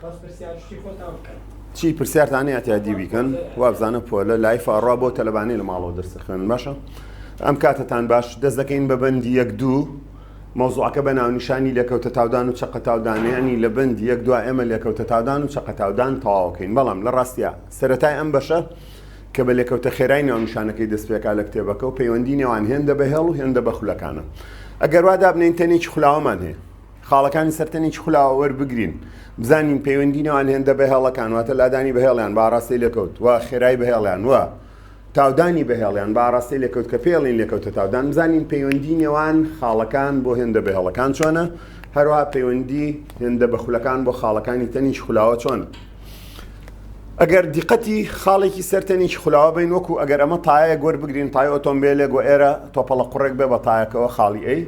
بەس پرسیار شتی خۆتان بکەن. چی پرسیارتان هەیە تیادی بیکەن وابزانە پۆلە لایف ئەڕا بۆ تەلەبانی لە ماڵەوە دەرسە خوێن باشە ئەم کاتتان باش دەست دەکەین بە بەندی یەک دوو مەوزوعەکە بە ناونیشانی لێکەوتە تاودان و چەقەتاودانیانی لە بەندی یەک دو ئێمە لێکەوتە تاودان و چەقەتاودان تەواوەکەین بەڵام لە ڕاستە سەتای ئەم بەشە کە بە لێکەوتە خێرای ناونیشانەکەی دەستپێکا لە کتێبەکە و پەیوەندی نێوان هێندە بە هێڵ و هێندە بە خولەکانە ئەگەر وا دابنین تەنێکی خولاوەمان هەیە خاڵەکانی سەر تەنێکی خولاوە وەربگرین، بزانین پەیوەندی نێوان هێندە بەهێڵەکان، واتە لادانی بەهێڵیان بە ئاراستەی لێکەوت و خێرایی بەهێڵیان و تاودانی بەهێڵیان بە ئاراستەی لێکەوت کە پێڵین لێکەوتە تاودان، بزانین پەیوەندی نێوان خاڵەکان بۆ هێندە بەهێڵەکان چۆنە، هەروەها پەیوەندی هێندە بەخولەکان بۆ خاڵەکانی تەنیکی خولاوە چۆنە. ئەگەر دیقەتی خاڵێکی سەر تەنیکی خولاوە بین وەکو ئەگەر ئەمە تایەک وەربگرین تای ئۆتۆمبیلێک و ئێرە تۆپەڵە قوڕێک بێ بە تایەکەوە خاڵی ئەی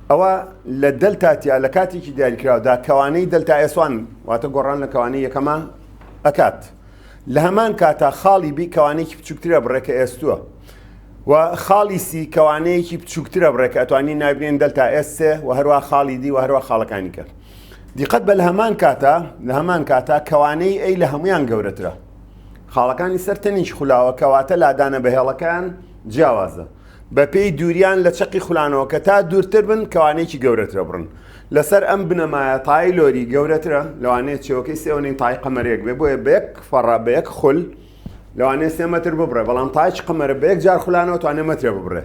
ئەوا لە دەلتا تیا لە کاتێکی دیاریکراودا کەوانەی دەلتا ئێس وان واتە گۆڕان لە کەوانەی یەکەما ئەکات لە هەمان کاتا خاڵی بی کەوانێکی بچووکترە بڕێ کە ئێستووە و خاڵی سی کەوانەیەکی بچووکترە بڕێ کە ئەتوانی نابنێن دەلتا ئێسێ و هەروە خاڵی دی و هەروە خاڵەکانی کە دیقەت بە لە هەمان کاتا لە هەمان کاتا کەوانەی ئەی لە هەمویان گەورەترە خاڵەکانی سەر تەنیش خولاوە کەواتە لادانە بەهێڵەکان جیاوازە بەپێی دووریان لە چەقی خولانەوەکە تا دوورتر بن کەوانەیەکی گەورەترە بڕن لەسەر ئەم بنەمایە تای لۆری گەورەترە لەوانەیە چێوەکەی سێوەنین تای قەمەرێک بێ بۆیە بە یەک فەڕە بە یەک خول لەوانەیە سێ مەتر ببڕێ بەڵام تایچ قەمەرە بە یەک جار خولانەوە توانێ مەترێ ببڕێ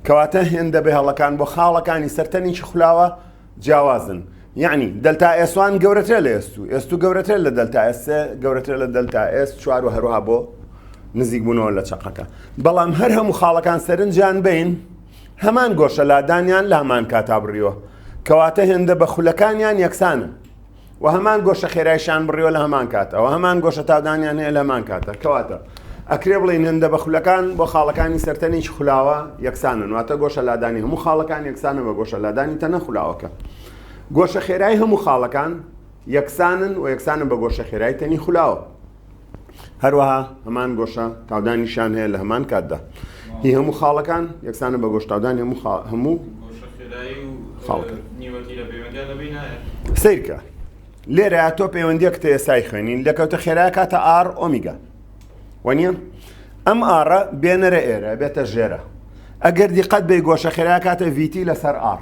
کەواتە هێندە بێ هەڵەکان بۆ خاڵەکانی سەرتەنیی خولاوە جیاوازن یەعنی دەلتا ئێس وان گەورەترە لە ئێس و ئێس و گەورەترە لە دەلتا ئێس گەورەترە لە دەلتا ئێس چوار و هەروها بۆ نزیک بوونەوە لە چەقەکە بەڵام هەر هەموو خاڵەکان سەرنجیان بین هەمان گۆشە لادانیان لامان کاتا بڕیوە کەواتە هێندە بە خولەکانیان یەکسانن و هەمان گۆشە خێرایشان بڕیوە لە هەمان کاتەوە هەمان گۆشە تادانیان هەیە لەمان کاتە کەواتە ئەکرێ بڵین هەندە بە خولەکان بۆ خاڵەکانی سەرتەنیش خولاوە یەکسانن واتە گۆشە لادانی هەموو خاڵەکان یەکسانە بە گۆشە لادانی تەنە خولاوەکە گۆشە خێرای هەموو خاڵەکان یەکسانن و یەکسانە بە گۆشە خێرای تەنی خولاوە هەروەها هەمان گۆشە تاودانیشان هەیە لە هەمان کاتدا هی هەموو خاڵەکان یەکسانە بە گۆشتاودانی هەموو هەموو سیرکە لێرە تۆ پەیوەندی کتە ئێستای خوێنین لەکەوتە خێرا کاتە ئار ئۆمیگا وەنیە ئەم ئارە بێنەرە ئێرە بێتە ژێرە ئەگەر دیقەت بێ گۆشە خێرا کاتە ڤیتی لەسەر ئار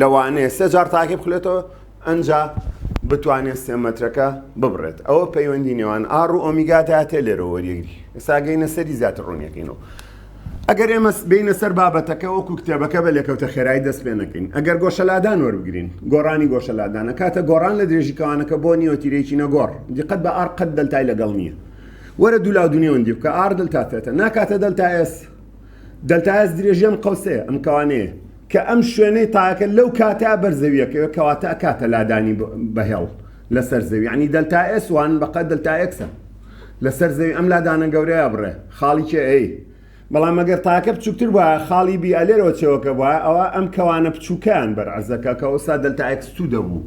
لەوانەیە سێ جار تاکی بخلێتەوە ئەنجا بتوانێت سێ مەترەکە ببڕێت ئەوە پەیوەندی نێوان ئاڕ و ئۆمیگاداتێ لێرە وەریەگری ئێساگەینە سەری زیاتر ڕوونیەکەینەوە ئەگەر ئێمە بینە سەر بابەتەکە وەکو کتێبەکە بە لێکەوتە خێرای دەست پێ نەکەین ئەگەر گۆشەلادان وەربگرین گۆڕانی گۆشەلادانە کاتە گۆڕان لە درێژیکەوانەکە بۆ نیوەتیرێکی نەگۆڕ دیقەت بە ئار قەت دەلتای لەگەڵ نییە وەرە دوولا دونیێوەندی بکە ئاردل تاتێتە ناکاتە دەلتا ئێس دەلتایەس درێژی ئەم قەوسەیە، ئەم کەوانەیە، کە ئەم شوێنەی تایەکە لەو کاتە بەر زەویەکەوێ کەواتە ئەکاتە لادانی بە هێڵ لەسەر زەوی یانی دەلتا ئێس وان بەقە دەلتا ئێکسە لەسەر زەوی ئەم لادانە گەورەیە بڕێ خاڵی چێ ئەی بەڵام ئەگەر تاکە بچووکتر بە خاڵی بی ئەلێرەوە چێوەکە بە ئەوە ئەم کەوانە بچووکیان بەر عزەکە کە ئەوسا دەلتا ئەکس تو دەبوو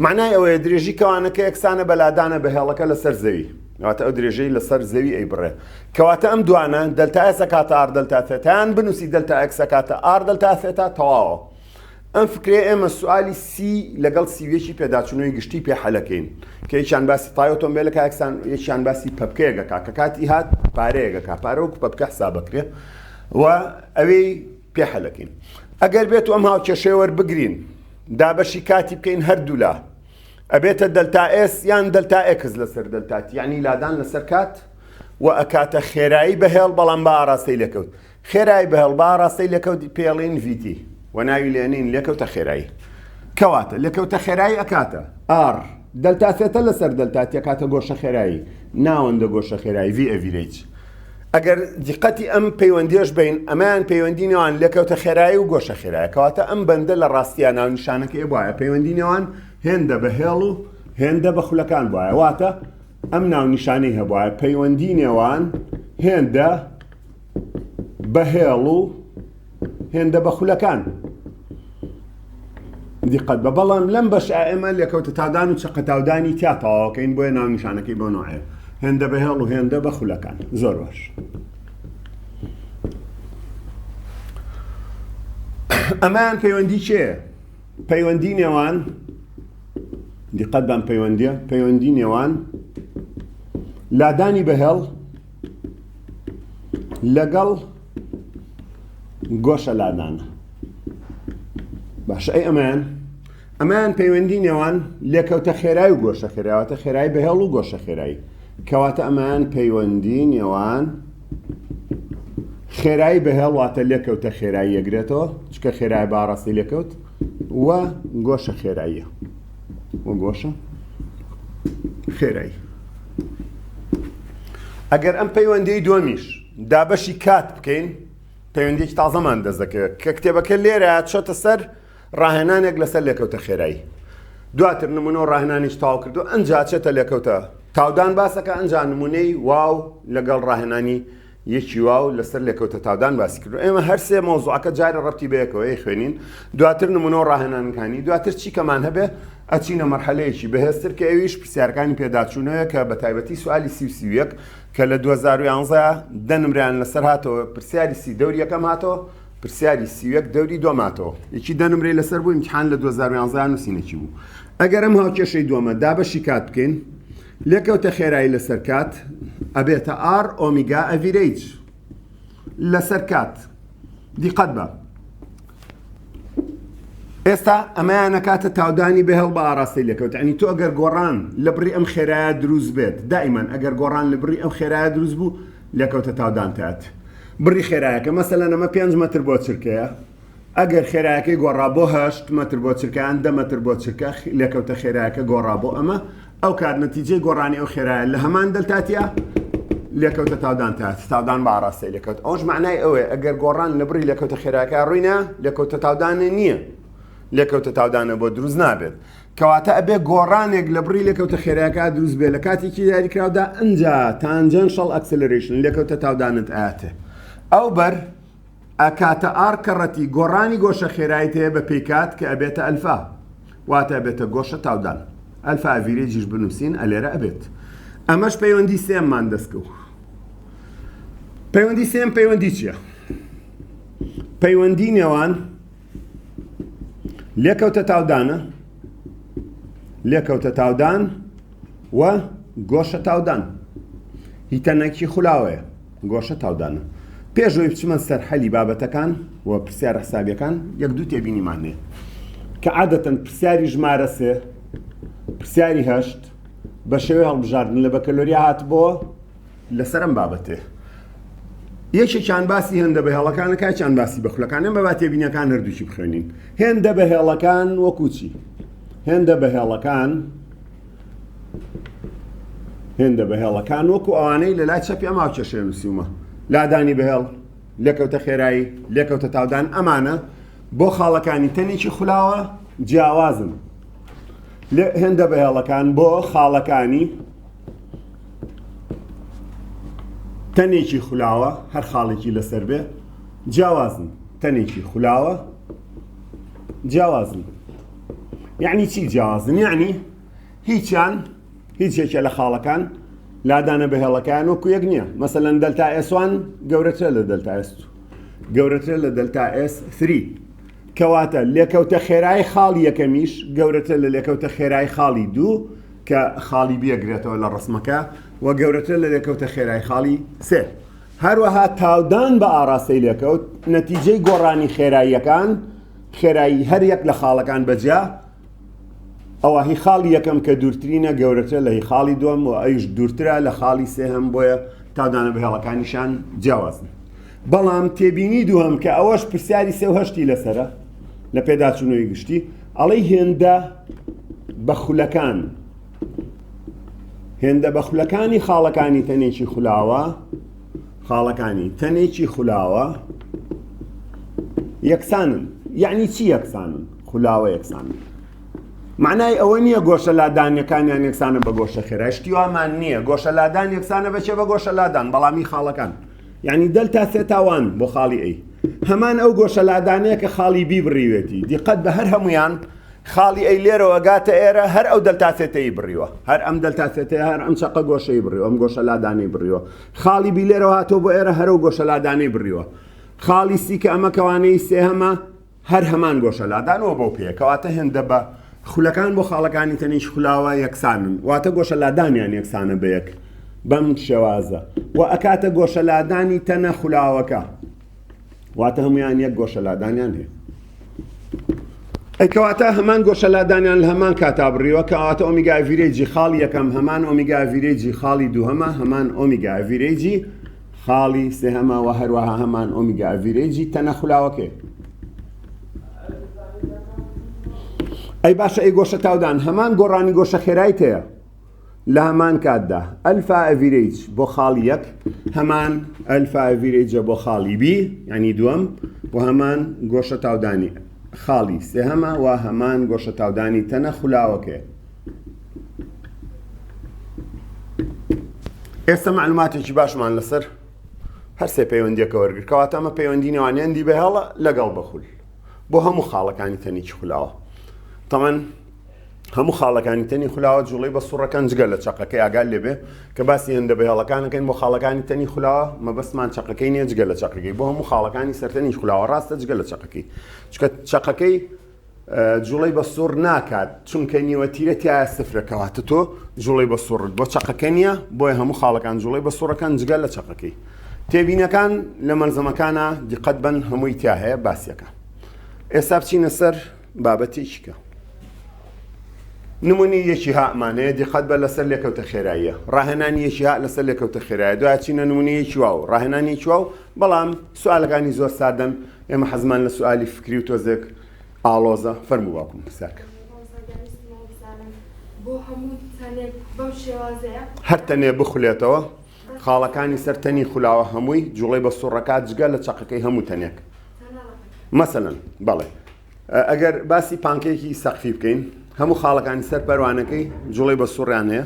معنای ئەوەیە درێژی کەوانەکە یەکسانە بەلادانە بەهێڵەکە لەسەر زەوی واتە ئەو درێژەی لەسەر زەوی ئەیبڕێ کەواتە ئەم دوانە دەلتا ئێسە کاتە ئار دەلتا تێتان بنووسی دەلتا ئەکسە کاتە ئار دەلتا تێتا تەواوە ئەم فکرێ ئێمە سوالی سی لەگەڵ سیوێکی پێداچوونەوەی گشتی پێ حەلەکەین کە یەکیان باسی تای ئۆتۆمبیلە کاکسان یەکیان باسی پەپکەیەگەکە کە کاتی هات پارەیەگەکە پارە وەکو پەپکە حسابەکرێ و ئەوەی پێ حەلەکەین ئەگەر بێت و ئەم هاوکێشەیە وەربگرین دابەشی کاتی بکەین هەردوولا ئەبێتە دەلتا ئێس یان دەلتا ئێکس لەسەر دەلتا تی یەعنی لادان لەسەر کات و ئەکاتە خێرایی بەهێڵ بەڵام بە ئاراستەی لێکەوت خێرای بەهێڵ بە ئاراستەی لێکەوت پێڵین ڤیتی و ناوی لێنین لێکەوتە خێرایی کەواتە لێکەوتە خێرایی ئەکاتە ئار دەلتا سێتە لەسەر دەلتا تێکاتە گۆشە خێرایی ناوەندە گۆشە خێرایی ڤی ئەڤیرەیج ئەگەر دیقەتی ئەم پەیوەندیەش بەین ئەمەیان پەیوەندی نێوان لێکەوتە خێرایی و گۆشە خێرایە کەواتە ئەم بەندە لە ڕاستیا ناونیشانەکەی بوایە پەیوەندی نێوان هێندە بە هێڵ و هێندە بە خولەکان بوایە واتە ئەم ناونیشانەی هەبوایە پەیوەندی نێوان هێندە بە هێڵ و هێندە بە خولەکان دیقەت بە بەڵام لەم بەش ئێمە لێکەوتە تادان و چقەتاودانی تیا تەواوەکەین بۆیە ناونیشانەکەی بۆ نوعەیە هێندە بە هێڵ و هێندە بە خولەکان زۆر باش ئەمان پەیوەندی چێ پەیوەندی نێوان دیقەت بەم پەیوەندیە پەیوەندی نێوان لادانی بەهێڵ لەگەڵ گۆشە لادان باشە ئەی ئەمەیان ئەمان پەیوەندی نێوان لێکەوتە خێرای و گۆشە خێراوەتە خێرای بەهێڵ و گۆشە خێرایی کەواتە ئەمان پەیوەندی نێوان خێرایی بەهێڵواتە لێکەوتە خێرایی یەگرێتەوە چکە خێرای باڕاستی لێکەوت و گۆشە خێراییە و گۆشە خێرایی ئەگەر ئەم پەیوەندی دۆمیش دابەشی کات بکەین پەیوەندیەکی تازەمان دەست دەکەوێت کە کتێبەکە لێرە چۆتە سەر ڕاهێنانێک لەسەر لێکەوتە خێرایی دواتر نمونە و ڕاهێنانیش تاو کردو ئەنجا چێتە لێکەوتە تاودان باسەکە ئەنجا نمونەی واو لەگەڵ ڕاهێنانی یەکی واو لەسەر لێکەوتە تاودان باسی کردو ئێمە هەرسێ مۆزوعەکە جارە ڕەتی بەیەکەوەی خوێنین دواتر نمونە و ڕاهێنانەکانی دواتر چی کەمان هەبێ ئەچینە مەرحەلەیەکی بەهێزتر کە ئەویش پرسیارەکانی پێداچوونەوە کە بە تایبەتی سوالی سی و سیویەک کە لە دوو هەزار و یانزە دە نمرەیان لەسەر هاتەوە پرسیاری سی دەوری یەکەم هاتەوە پرسیاری سی و یەک دەوری دووەم هاتەوە یەکی دە نمرەی لەسەر بوو ئیمتیحان لە دوو هەزار و یانزە نووسینێکی بوو ئەگەر ئەم هاوکێشەی دووەمە دابەشی کات بکەین لێکەوتە خێرایی لەسەر کات ئەبێتە ئار ئۆمیگا ئەڤیرەیج لەسەر کات دیقەت بە ئێستا ئەمەیان نەکاتە تاودانی بەهێڵ بە ئاراستەی لەکەوت ئەنی تۆ ئەگەر گۆڕان لە بڕی ئەم خێرایە دروست بێت دائیمان ئەگەر گۆڕان لە بڕی ئەم خێرایە دروست بوو لەکەوتە تاودانتات بڕی خێرایەکە مەسە لە نەمە 5 متر بۆ چرکەیە ئەگەر خێرایەکەی گۆڕا بۆ هەشت متر بۆ چرکان دە متر بۆ چرکە لەکەوتە خێرایەکە گۆڕا بۆ ئەمە ئەو کات نەتیجەی گۆڕانی ئەو خێرایە لە هەمان دەلتاتیا لێکەوتە تاودان تا تاودان بە ئاراستەی لەکەوت ئەوش معنای ئەوەیە ئەگەر گۆڕان لە بڕی لەکەوتە خێراکە ڕووینە لێکەوتە تاودانێ نییە لێکەوتە تاودانە بۆ دروست نابێت کەواتە ئەبێ گۆڕانێک لە بڕی لەکەوتە خێراکە دروست بێت لە کاتێکی یاریکراودا ئەجا تانجەن شەڵ ئەکسلرشن لێکەوتە تاودانت ئااتێ ئەو بەر ئە کاتە ئاڕ کە ڕەتی گۆڕانی گۆشە خێرایت هەیە بە پێی کات کە ئەبێتە ئەلفا واتە ئەبێتە گۆشە تاودان ئەلفا ئەڤیرێجیش بنوسین ئەلێرە ئەبێت ئەمەش پەیوەندی سێم مان دەستکەو پەیوەندی سێم پەیوەندی چیە پەیوەندی نێوان لێکەوتە تاودانە لێکەوتە تاودان و گۆشە تاودان هیتەنەکی خولاوەیە گۆشە تاودان و پێش ئەوەی بچمە سەر حەلی بابەتەکان و پرسیارە حسابیەکان یەک دوو تێبینیمان هەیە کە عادەتەن پرسیاری ژمارە سێ پرسیاری هەشت بە شێوەی هەڵبژاردن لە بەکەلۆریا هاتبووە لەسەر ئەم بابەتێ یەکێکیان باسی هێندە بە هێڵەکانە کاچیان باسی بە خولەکانە بە باتێبینەکان هەردووچی بخوێنین هێندە بە هێڵەکان وەکوچی هێندە بە هێڵەکان هێندە بەهێڵەکان وەکو ئەوانەی لە لای چەپی ئەما کێشێ نووسیومە لادانی بەهێڵ لێکەوتە خێرایی لێکەوتە تاودان ئەمانە بۆ خاڵەکانی تەنێکی خولاوە جیاوازن هێندە بەهێڵەکان بۆ خاڵەکانی تەنێکی خولاوە هەر خاڵێکی لەسەر بێ جیاوازن تەنێکی خولاوە جیاوازن یعنی چی جیاوازن یعنی هیچیان هیچ یەکێ لە خاڵەکان لادانە بە هێڵەکان وەکو یەک نییە مەسەەن دەلتا ئێسوان گەورەترە لە دەلتا ئێست گەورەترە لە دەلتا ئێس 3 کەواتە لێکەوتە خێرای خاڵی یەکەمیش گەورەتە لە لێکەوتە خێرای خاڵی دوو کە خاڵی بێگرێتەوە لە ڕسمەکە و گەورەتر لە لێکەوتە خێرای خاڵی سێ هەروەها تاودان بە ئاراستەی لێکەوت نەتیجەی گۆڕانی خێراییەکان خێرایی هەر یەک لە خاڵەکان بە جیا ئەوە هی خاڵی یەکەم کە دوورترینە گەورەترە لە هی خاڵی دووەم و ئەویش دوورترە لە خاڵی سێهەم بۆیە تادانە بە هێڵەکانیشان جیاوازن بەڵام تێبینی دووەم کە ئەوەش پرسیاری سێ و هەشتی لەسرە لە پێداچوونەوەی گشتی ئەڵەی هێندە بە خولەکان هێندە بە خولەکانی خاڵەکانی تەنێکی خولاوە خاڵەکانی تەنێکی خولاوە یەکسانن یعنی چی یەکسانن خولاوە یەکسانن معنای ئەوە نییە گۆشە لادانەکانیان یەکسانە بە گۆشە خێرا شتیوامان نییە گۆشە لادان یەکسانە بەچێ بە گۆشە لادان بەڵامی خاڵەکان یعنی دەل تا سێ تاوان بۆ خاڵی ئەی هەمان ئەو گۆشە لادانەیە کە خاڵی بی بڕیوێتی دیقەت بە هەر هەمویان خاڵی ئەی لێرەوە گاتە ئێرە هەر ئەو دەلتا ثێتەیی بڕیوە، هەر ئەم دەلتا ثێتەیە هەر ئەم چەقە گۆشەی بڕیوە، ئەم گۆشە لادانەی بڕیوە. خاڵی بی لێرەوە هاتووە بۆ ئێرە هەر ئەو گۆشە لادانەی بڕیوە. خاڵی سی کە ئەمە کەوانەیی سێهەمە هەر هەمان گۆشە لادانەوە بەو پێیە. کەواتە هێندە بە خولەکان بۆ خاڵەکانی تەنیشت خولاوە یەکسانن. واتە گۆشە لادانیان یەکسانە بە یەک بەم شێوازە. وە ئەکاتە گۆشە لادانی تەنە خولاوەکە. واتە هەمویان یەک گۆشە لادانیان هەیە ئەیکەواتە هەمان گۆشە لادانیان لە هەمان کاتا بڕیوە کەواتە ئۆمیگاڤیرێجی خاڵی یەکەم هەمان ئۆمیگاڤیرێجی خاڵی دووهەمە هەمان ئۆمیگاڤیرێجی خاڵی سێهەمەوە هەروەها هەمان ئۆمیگاڤیرێجی تەنەخلاوەکەی ئەی باشە ئەی گۆشە تاودان هەمان گۆڕانی گۆشە خێرای تەیە لە هەمان کاتدا ئەلفا ئەڤیرەیج بۆ خاڵی یەک هەمان ئەلفا ئەڤیرەیجە بۆ خاڵی بی ینی دووەم و هەمان گۆشە تاودانی خاڵی سێهەمە و هەمان گۆشە تاودانی تەنە خولاوەکەی ئێستا معلوماتێکی باشمان لەسەر هەرسێ پەیوەندیەکە وەرگر کەواتە ئەمە پەیوەندی نێوانیاندی بەهێڵە لەگەڵ بەخول بۆ هەموو خاڵەکانی تەنێکی خولاوە تەمان هەموو خاڵەکانی تەنی خولاوە جوڵی بە سوڕەکان جگە لە چقەکەی ئاگال لێبێ کە باسی هێندە بە هێڵەکانەکەین بۆ خاڵەکانی تەنی خولاوە مەبەستمان چقەکەی نیە جگە لە چقەکەی بۆ هەموو خاڵەکانی سەرتەنی خولاوە ڕاستە جگە لە چقەکەی چکە چقەکەی جوڵی بە سوڕ ناکات چونکە نیوەتیرە تایە سفرەکەواتە تۆ جوڵی بە سوڕت بۆ چقەکە نیە بۆیە هەموو خاڵەکان جوڵی بە سوڕەکان جگە لە چقەکەی تێبینەکان لە مەلزەمەکانە دیقەت بن هەمووی تیا هەیە باسیەکە ئێستا بچینە سەر بابەتێکی کە نمونی یەکی هامانەیە دیقەت بە لەسەر لێکەوتە خێراییە ڕاهێنانی یەکی ها لەسەر لێکەوتە خێرایە دوای چینە نمونی یەکی واو ڕاهێنانی چوا و بەڵام سوالەکانی زۆر سادەن ئێمە حەزمان لە سوالی فکری و تۆزێک ئاڵۆزە فەرمو واکم پرسیارکە هەر تەنێ بخولێتەوە خاڵەکانی سەر تەنی خولاوە هەمووی جوڵەی بە سوڕەکات جگە لە چەقەکەی هەموو تەنێک مەسەن بەڵێ ئەگەر باسی پانکێکی سەقفی بکەین هەموو خاڵەکانی سەر پەروانەکەی جوڵەی بە سوڕیان هەیە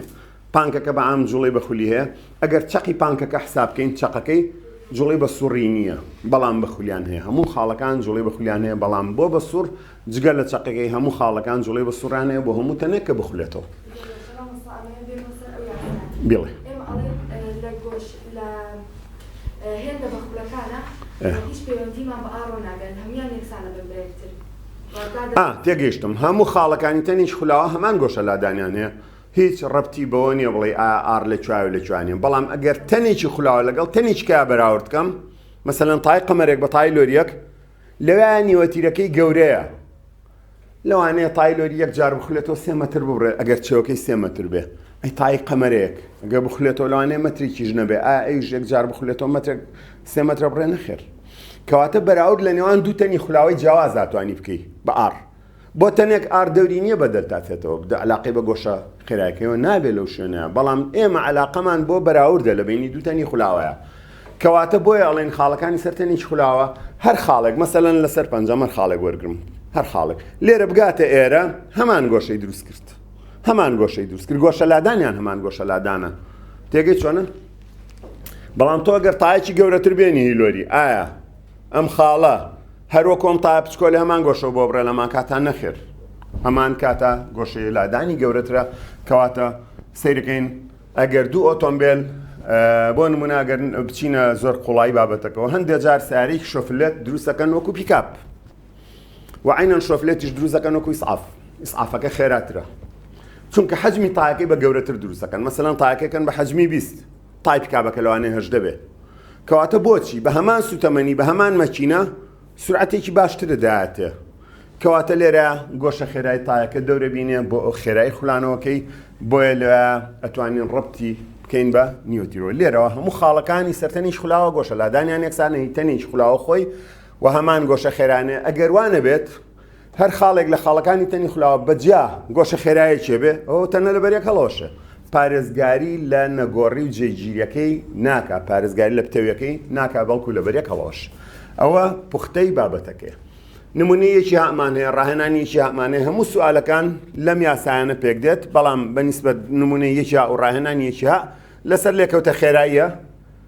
پانکەکە بە ئام جوڵەی بە خولی هەیە ئەگەر چەقی پانکەکە حساب بکەین چەقەکەی جوڵی بە سوڕی نییە بەڵام بە خولیان هەیە هەموو خاڵەکان جوڵی بە خولیان هەیە بەڵام بۆ بە سوڕ جگە لە چەقەکەی هەموو خاڵەکان جوڵەی بە سوڕانەیە بۆ هەموو تەنێک کە بخولێتەوە. بڵێ. هێندە بە خولەکانە هیچ پەیوەندیمان بە ئاڕۆ ناگەن هەموان یەکسانە بە برێکتر. تێگەیشتم هەموو خاڵەکانی تەنیش خولاوە هەمان گۆشە لادانیان هەیە هیچ ڕەتی بەوە نیە بڵێ ئار لە چاوی لە جوانێ بەڵام ئەگەر تەنێکی خولاوە لەگەڵ تەنیچکە بەراوردکەم مەسەەن تای قەمەرێک بە تای لۆریەک لەوێیا نیوە تیرەکەی گەورەیە لەوانەیە تایلۆری یەک جار بخلێتەوە سێ مەتر ببڕێت ئەگەر چێوەکەی سێ مەتر بێ ئەی تای قەمەرێک ئەگە بخلێتەوە لەوانەیە مەترێکیش نەبێ ئا ئەویش یەک جار بخلێتەوە مەترێک سێ مەترە بڕێ نەخێر کەواتە بەراورد لە نێوان دوو تەنی خولاوەی جیاوازاتوانی بکەیت بە ئاڕ بۆ تەنێک ئار دەوری نیە بە دەلتا تێتەوە بدە علاقەی بە گۆشە خێرایەکەیەوە نابێ لەو شوێنەیە بەڵام ئێمە علاقەمان بۆ بەراوردە لە بینی دوو تەنی خولاوەیە کەواتە بۆیە ئەڵێن خاڵەکانی سەر تەنیش خولاوە هەر خاڵێک مەسەلەن لەسەر پەنجەمەر خاڵێک وەرگرم هەر خاڵێک لێرە بگاتە ئێرە هەمان گۆشەی دروست کرد هەمان گۆشەی دروست کرد گۆشە لادانیان هەمان گۆشە لادانە تێگەی چۆنە بەڵام تۆ گەر تاایکی گەورەتر بێنی هیلۆری ئایا ئەم خاڵە هەر وەکو ئەم تایە پچکۆ لە هەمان گۆشەوە بۆ بڕێ لەمان کاتان نەخێر هەمان کاتە گۆشەی لادانی گەورەترە کەواتە سیرکەین ئەگەر دوو ئۆتۆمبیل بۆ نموناگەر بچینە زۆر قوڵایی بابەتەکەەوە هەندێک جار ساریک شۆفلێت دروستەکەن وەکو پیکاپ وعینەن شۆفلێتیش دروستەکەن وەکو ئیسعاف ئیسعافەکە خێراترە چونکە حەجمی تااکەی بە گەورەتر دروستەکەن مەسەلاەن تااکەکەن بە حەجمی بیست تای پیکابەکە لەوانێ هەش دەبێت کەواتە بۆچی بە هەمان سوتەمەنی بە هەمان مەکینە سورعەتێکی باشترە دایەتێ کەواتە لێرە گۆشە خێرای تایەکە دەورە بینێ بۆ ئەو خێرای خولانەوەکەی بۆیە لە ئەتوانین ڕبتی بکەین بە نیوتیرۆ لێرەوە هەموو خاڵەکانی سەرتەنیش خولاوە گۆشە لادانیان یەکسانەی تەنیش خولاوە خۆی و هەمان گۆشە خێرانێ ئەگەر وانە بێت هەر خاڵێک لە خاڵەکانی تەنی خولاوە بە جیا گۆشە خێرایەکێ بێ ئەوە تەنە لەبەر یەک هەڵەوەشێ پارێزگاری لە نەگۆڕی و جێگیریەکەی ناکا پارێزگاری لە پتەویەکەی ناکا بەڵکو لەبەر یەک هەڵەوەش ئەوە پوختەی بابەتەکەی نمونەیەکی هامان هەیە ڕاهێنانیەکی هامانێ هەموو سوالەکان لەم یاسایانە پێک دێت بەڵام بەنیسبەت نمونەیەکی و ڕاهێنانیەکی ها لەسەر لێکەوتە خێراییە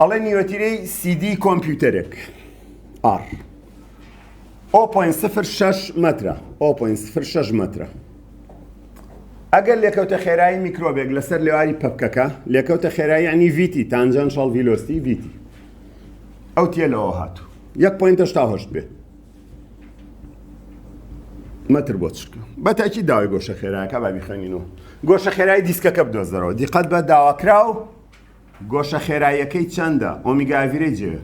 ئەڵێ نیوەتیرەی سیدی کۆمپیوتەرێک ئار 0.06 مترە 0.06 مترە ئەگەر لێکەوتە خێرایی میکرۆبێک لەسەر لێواری پەکەکە لێکەوتە خێرایی عنی ویتی تانجان شڵ ڤیلۆستی ویتی ئەو تێ لەەوە هاتوو 1.8 بێت مەتر بۆ چرکە بە تاکی داوای گۆشە خێراکە با بیخەنینەوە گۆشە خێرای دیسکەکە بدۆزەرەوە دیقەت بە داواکراو گۆشە خێراییەکەی چەندە ئۆمیگاڤیرەی جێ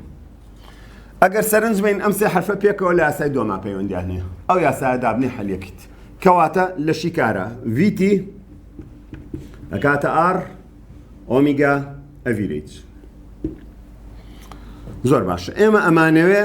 ئەگەر سەرنج بین ئەم سێ حرفە پێکەوە لە یاسای دۆما پەیوەندیانە ئەو یاسایە دابنی حەلیەکەیت کەواتە لە شیکارە ویتی ئەکاتە ئار ئۆمیگا ئەڤیرەیت زۆر باشە ئێمە ئەمانەوێ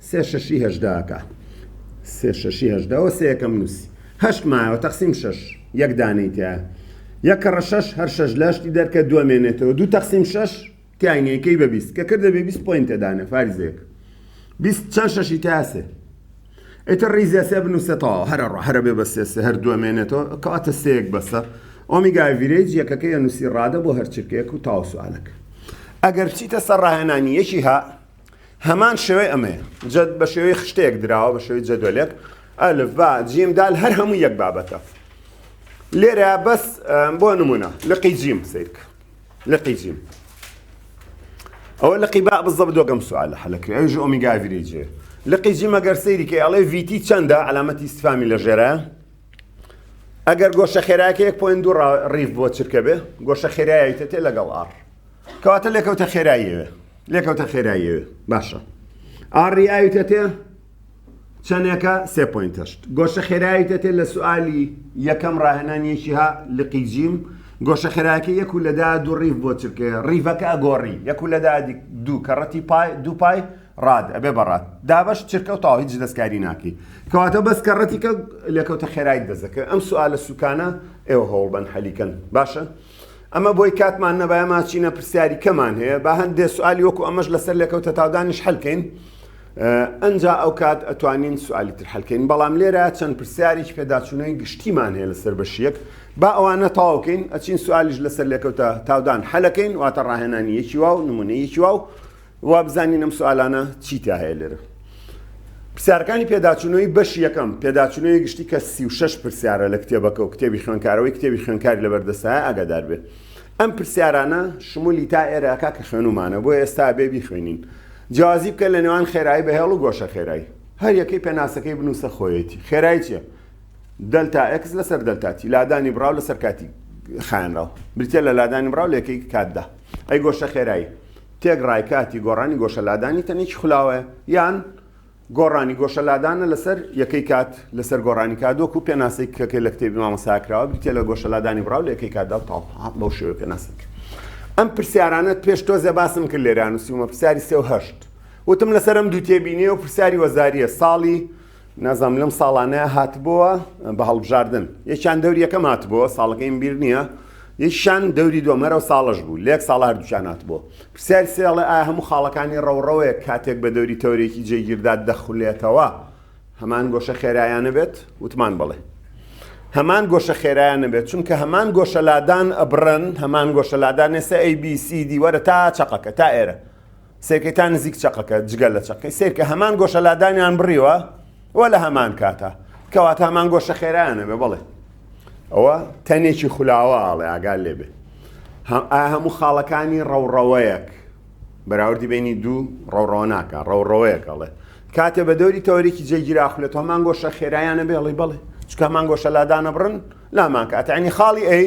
سێ شەشی هەژدە ئەکا سێ شەشی هەژدە وە سێ یەکەم نووسی هەشت مایەوە تەقسیم شەش یەک دانەی تیایە یەک کەڕە شەش هەر شەش لەشتی دەرکە دووە مێنێتەوە دوو تەقسیم شەش تیای نیە کەی بە بیست کە کردە بێ بیست پۆینتە دانێ فارزێک بیست چەند شەشی تیا سێ ئیتر ریزە سێ بنووسێ تەواو هەرە ڕۆ هەرە بێ بە سێ سێ هەر دووە مێنێتەوە کەواتە سێیەک بەسە ئۆمیگای ڤیرێج یەکەکە یە نووسی ڕادە بۆ هەرچرکەیەک و تاوسوالەکە ئەگەر چیتە سەر ڕاهێنانی یەکی ها هەمان شێوەی ئەمەیە جە بە شێوەی خشتەیەک دراوە بە شێوەی جەدۆلێک ئەلف با جیم دال هەر هەموو یەک بابەتە لێرە بەس بۆ نمونە لقی جیم سیرکە لقی جیم ئەوە لقی با بزە بدۆگەم سوالە حەلەکرێ ئەوژ ئۆمیگاڤری جێ لقی جیمە گەر سەیریکە ئەڵێ ویتی چەندە علامەتی سفامی لە ژێرە ئەگەر گۆشە خێراکە 1.2 ڕیف بۆ چرکە بێ گۆشە خێرایتە تێ لەگەڵ ئاڕ کەواتە لێکەوتە خێراییەوێ لێکەوتە خێراییەوێ باشە ئاڕی ئاویتە تێ چەندێکە سێ پوینتەشت گۆشە خێراییتە تێ لە سوالی یەکەم ڕاهێنانیەکی ها لقی جیم گۆشە خێراکە یەک و لەدا دوو ڕیف بۆ چرکێ ڕیڤەکە ئەگۆڕی یەک و لەدا دوو کەڕەتی پای دوو پای ڕاد ئەبێ بەڕات دابش چرکە و تاویج دەستکاری ناکەی کەواتە بەس کە ڕەتیکە لێکەوتە خێرای دەزەکە ئەم سوالە سوکانە ئێوە هەوڵبەن حەلیکەن باشە ئەمە بۆی کاتمان نەبایە ماچینە پرسیاری کەمان هەیە با هەندێ سوالی وەکو ئەمەش لەسەر لێکەوتە تاودانیش هەلکەین ئەجا ئەو کات ئەتوانین سوالی تر هەلکەین بەڵام لێرە چەند پرسیاریش پێداچوونەوەی گشتیمان هەیە لەسەر بەشیەک با ئەوانە تاوکەین ئەچین سوالیش لەسەر لێکەوتە تاودان هەلەکەین واتە ڕاهێنانی یەکی واو نمونە یەکی واو وابزانین ئەم سوالانە چی تیا هەیە لێرە. پرسیارەکانی پێداچوونەوەی بەش یەکەم پێداچوونەوەی گشتی کە سی و شەش پرسیارە لە کتێبەکە و کتێبی خوێنکارەوەی کتێبی خوێنکاری لەبەردەستایە ئاگادار بێ ئەم پرسیارانە شمولی تا ئێرەکە کە خوێنومانە بۆ ئێستا بێ بیخوێنین جیازی بکە لە نێوان خێرایی بەهێڵ و گۆشە خێرایی هەر یەکەی پێناسەکەی بنووسە خۆیەتی خێرایی چیە دەلتا ئەکس لەسەر دەلتاتی لادانی بڕاو لەسەر کاتی خانراو بریتە لە لادانی بڕاو لەکەی کاتدا ئەی گۆشە خێرایی تێکڕای کاتی گۆڕانی گۆشە لادانی تەنێکی خولاوە یان گۆڕانی گۆشە لادانە لەسەر یەکەی کات لەسەر گۆڕانی کات وەکو پێناسەی کەکە لە کتێبی مامەسا کراوە بریتە لە گۆشە لادانی بڕاو لە یەکەی کاتدا و تاڵ بەو شێوە پێناسەی کرد ئەم پرسیارانەت پێش تۆزێ باسم کرد لێران و سیومە پرسیاری سێ و هەشت وتم لەسەر ئەم دوو تێبینی و پرسیاری وەزاریە ساڵی نازانم لەم ساڵانەیە هاتبووە بە هەڵبژاردن یەکیان دەوری یەکەم هاتبووە ساڵەکەیم بیر نییە یەکشان دەوری دومەرە و ساڵش بوو لێک ساڵ هەردووچان هاتبووە پرسیار سێڵێ ئایا هەموو خاڵەکانی ڕەوڕەوەیە کاتێک بە دەوری تەورێکی جێگیردا دەخولێتەوە هەمان گۆشە خێرایانە بێت وتمان بڵێ هەمان گۆشە خێرایان نەبێت چونکە هەمان گۆشەلادان ئەبرن هەمان گۆشەلادان نێسە ئەی بیسی دیوەرە تا چقەکە تا ئێرە سێرکەی تا نزیک چەقەکە جگە لە چەقەی سێرکە هەمان گۆشە لادانیان بڕیوە و لە هەمان کاتە کەواتە هەمان گۆشە خێرایانە بێ بڵێ ئەوە تەنێکی خولاوە ئاڵێ ئاگال لێ بێ هەموو خاڵەکانی ڕەوڕەوەیەک بەراوردی بینی دوو ڕەوڕەوە ناکە ڕەوڕەوەیەکەڵێ کاتێ بە دەوری تەوەرێکی جێگیراخلێت هەمان گۆشە خێرایانە بێڵی بڵێ چکە هەمان گۆشە لادانە بڕن لامان کاتەعنی خاڵی ئەی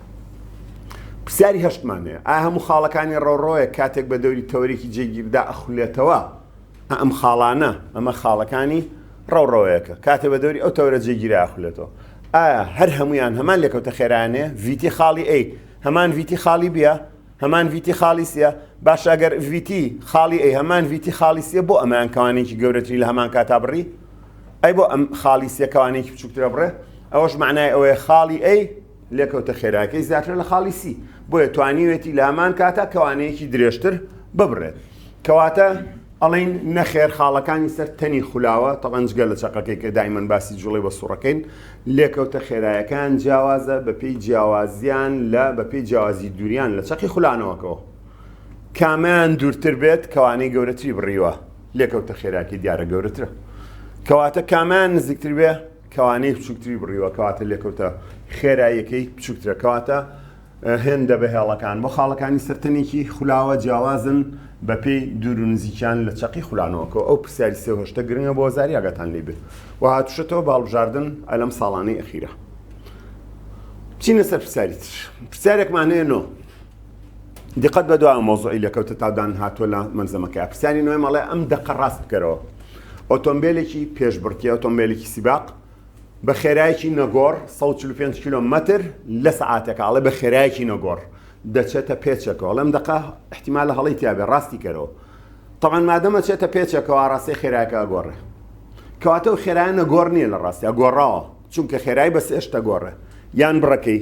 پرسیاری هەشتمان هەیە، ئایا هەموو خاڵەکانی ڕۆڕۆیەک کاتێک بە دەوری تەوەرێکی جێگیردا ئەخولێتەوە، ئەم خاڵانە، ئەمە خاڵەکانی ڕۆڕۆیەکە، کاتێ بە دەوری ئەو تەوەرە جێگیرە ئەخولێتەوە، ئایا هەر هەموویان هەمان لێکەوتە خێرایان هەیە، ڤیتی خاڵی ئەی هەمان ڤیتی خاڵی بییە، هەمان ڤیتی خاڵی سییە، باشە ئەگەر ڤیتی خاڵی ئەی هەمان ڤیتی خاڵی سییە بۆ ئەمەیان کەوانەیەکی گەورەتری لە هەمان کاتا بڕی؟ ئەی بۆ ئەم خاڵی سییە کەوانەیەکی بچووکترە بڕێ؟ ئەوەش مەعنای ئەوەیە خاڵی ئەی. لێکەوتە خێراکەی زیاترە لە خاڵی سی، بۆیە توانیوێتی لە هەمان کاتا کەوانەیەکی درێژتر ببڕێت. کەواتە ئەڵێین نەخێر خاڵەکانی سەر تەنی خولاوە، تەبعەن جگە لە چەقەکەی کە دایمەن باسی جوڵەی بە سوڕەکەین، لێکەوتە خێرایەکان جیاوازە بەپێی جیاوازیان لە بەپێی جیاوازی دووریان لە چەقی خولانەوەکەوە. کامەیان دوورتر بێت کەوانەی گەورەتری بڕیوە، لێکەوتە خێراکەی دیارە گەورەترە. کەواتە کامەیان نزیکتر بێ، کەوانەی بچوکتری بڕیوە کەواتە لێکەوتە خێراییەکەی بچوکترە کەواتە هێندە بە هێڵەکان بۆ خاڵەکانی سەر تەنێکی خولاوە جیاوازن بە پێی دوور و نزیکیان لە چەقی خولانەوەکە ئەو پرسیاری سێ هۆشتە گرنگە بۆ زاری ئاگاتان لی بێت و هاتوشەتەوە باڵبژاردن ئەلەم ساڵانەی ئەخیرە چینە سەر پرسیاری تر پرسیارێکمانەیە نۆ دیقەت بە دو مەوزوعی لێکەوتە تا دان هاتووە لە مەلزەمەکەی پرسیاری نوێ مەڵێ ئەم دەقە ڕاست بکەرەوە ئۆتۆمبیلێکی پێشبڕکی ئۆتۆمبیلێکی سیباق بە خێرایەکی نەگۆڕ 145 کیلومتر لە سەعاتەکەڵێ بە خێرایەکی نەگۆڕ دەچێتە پێچەکەەوە لەم دقە احتیمال لە هەڵی تیاێ ڕاستی کەرەوە تەوان مادەمە چێتە پێچەکەەوە ڕاستی خێراکە گۆڕێ کەواتە و خێرایە نەگۆڕ نییە لە ڕاستیا گۆڕاوە چونکە خێرای بە سێشتە گۆڕێ یان بڕەکەی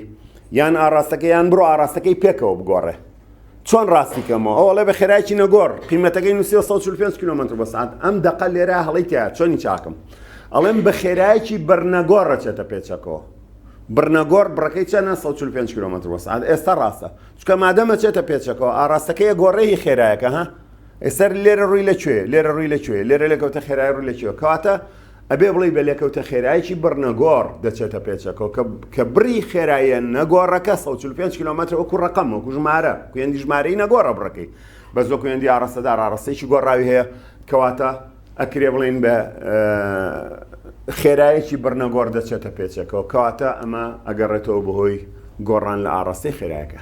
یان ئاڕاستەکە یان بڕۆ ئاڕاستەکەی پێکەوە بگۆڕێ چۆن ڕاستی کەمەوە ئەوڵێ بە خێراکی نەگۆڕ قیمەتەکەی نووسی 145 کیلومتر بە سعات ئەم دەقە لێرە هەڵی تیا چۆنی چاکم ئەڵێم بە خێراکی بەرنەگۆڕ ڕەچێتە پێچەکەەوە بڕنەگۆڕ بڕەکەی چەنە 145 کیلومتر بە سعات ئێستا ڕاستە چکە مادەمە چێتە پێچەکەەوە ئاراستەکەی گۆڕێی خێراەکە ها ئێسەر لێرە ڕووی لە کوێ لێرە ڕووی لە کوێ لێرە لەکەوتە خێرای ڕوو لە کوێ کەواتە ئەبێ بڵێی بە لێکەوتە خێرایەکی بڕ نەگۆڕ دەچێتە پێچەکەوە کە کە بڕی خێراییە نەگۆڕەکە سەد و چل و پێنج کیلۆمەترە وەکو ڕەقەم وەکو ژمارە کوێندی ژمارەی نەگۆڕە بڕەکەی بەس وەکو کوێندی ئاڕاستەدار ئاڕاستەیەکی گۆڕاوی هەیە کەواتە ئەکرێ بڵێین بە خێرایەکی بڕ نەگۆڕ دەچێتە پێچەکەوە کەواتە ئەمە ئەگەڕێتەوە بەهۆی گۆڕان لە ئاڕاستەی خێرایەکە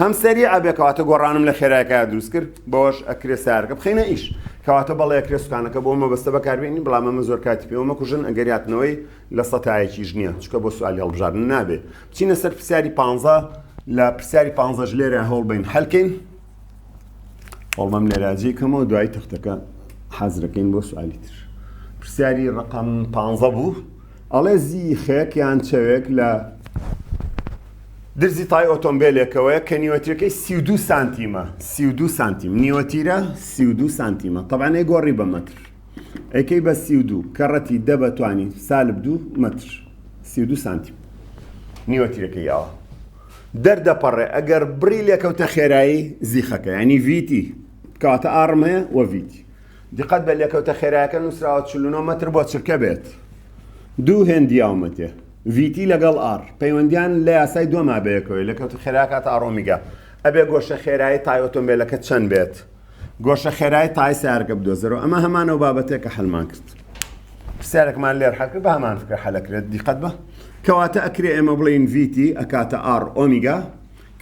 هەم سەریعە بێ کەواتە گۆڕانم لە خێرایەکە دروست کرد بەوەش ئەکرێ سارەکە بخینە ئیش کەواتە بەڵێ ئەکرێ سوکانەکە بۆ مەبەستە بەکاربێنی بەڵام ئەمە زۆر کاتی پێوە مەکوژن ئەگەر هاتنەوەی لە سەتایەکیش نییە چکە بۆ سوالی هەڵبژاردن نابێ بچینە سەر پرسیاری پ لە پرسیاری پ لێرە هەوڵ بین حلکەین هەڵمەم لێراجی کەمەوە دوای تەختەکە حەزرەکەین بۆ سوالی تر پرسیاری ڕقم پ بوو ئەڵێ زیخێک یان چەوێک لە درزی تای ئۆتۆمبێلێکەوەیە کە نیوەتیەکەی سی دو سانتیمە سی دو سانتیم نیوەتیرە سی دو سانتیمە تەبانەی گۆڕی بە مەتر ئەکەی بە سی دو کە ڕەتی دە بەتوانی سالب دوو مەتر سی دو سانتیم نیوەتیرەکە یاوە دەردەپەڕێ ئەگەر بڕی لێکەوتە خێرایی زیخەکە ینی ڤیتی کاتە ئاڕم هەیە وە ڤیتی دقەت بە لێکەوتە خێرایەکە نووسراوە چل و نۆ مەتر بۆ چرکە بێت دوو هێندی یاومەتێ ڤیتی لەگەڵ ئاڕ پەیوەندیان لە یاسای دووە مابەیەکەوەی لەکەوتە خێراکە تا ئەڕۆمیگا ئەبێ گۆشە خێرایی تای ئۆتۆمبیلەکە چەند بێت گۆشە خێرای تای سارگە بدۆزەرەوە ئەمە هەمانەوە بابەتێک کە حلمان کرد پرسیارێکمان لێر حەکرد بە هەمان فکرە حەلەکرێت دیقەت بە کەواتە ئەکرێ ئێمە بڵێن ڤیتی ئەکاتە ئاڕ ئۆمیگا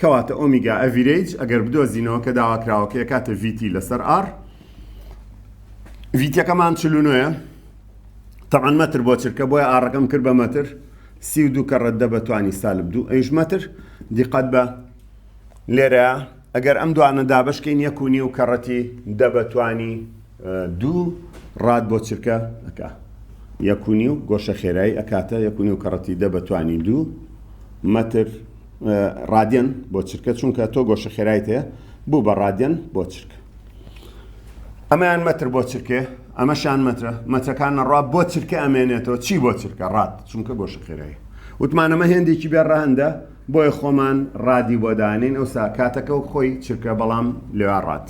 کەواتە ئۆمیگا ئەڤیرەیج ئەگەر بدۆزینەوە کە داواکراوەکە ئەکاتە ڤیتی لەسەر ئاڕ ڤیتەکەمان چل و نۆیە تەعەن مەتر بۆ چرکە بۆیە ئاڕەکەم کرد بە مەتر سی و دوو کە ڕەددە بە توانی سالب دوو ئەیش مەتر دیقەت بە لێرە ئەگەر ئەم دوانە دابشکین یەک و نیو کەڕەتی دە بە توانی دوو ڕات بۆ چرکە ئەکا یەک و نیو گۆشە خێرایی ئەکاتە یەک و نیو کەڕەتی دە بە توانی دوو مەتر ڕادێن بۆ چرکە چونکە تۆ گۆشە خێرایت هەیە بوو بە ڕادێن بۆ چرکە ئەمەیان مەتر بۆ چرکێ ئەمەشان مەترە مەترەکان نەڕا بۆ چرکە ئەمێنێتەوە چی بۆ چرکە ڕات چونکە گۆش خێرایی وتمانەمە هێندێکی بێ ڕەهندە بۆیە خۆمان ڕادی بۆدانین ئەو ساکاتەکە و خۆی چرکە بەڵام لێوا ڕات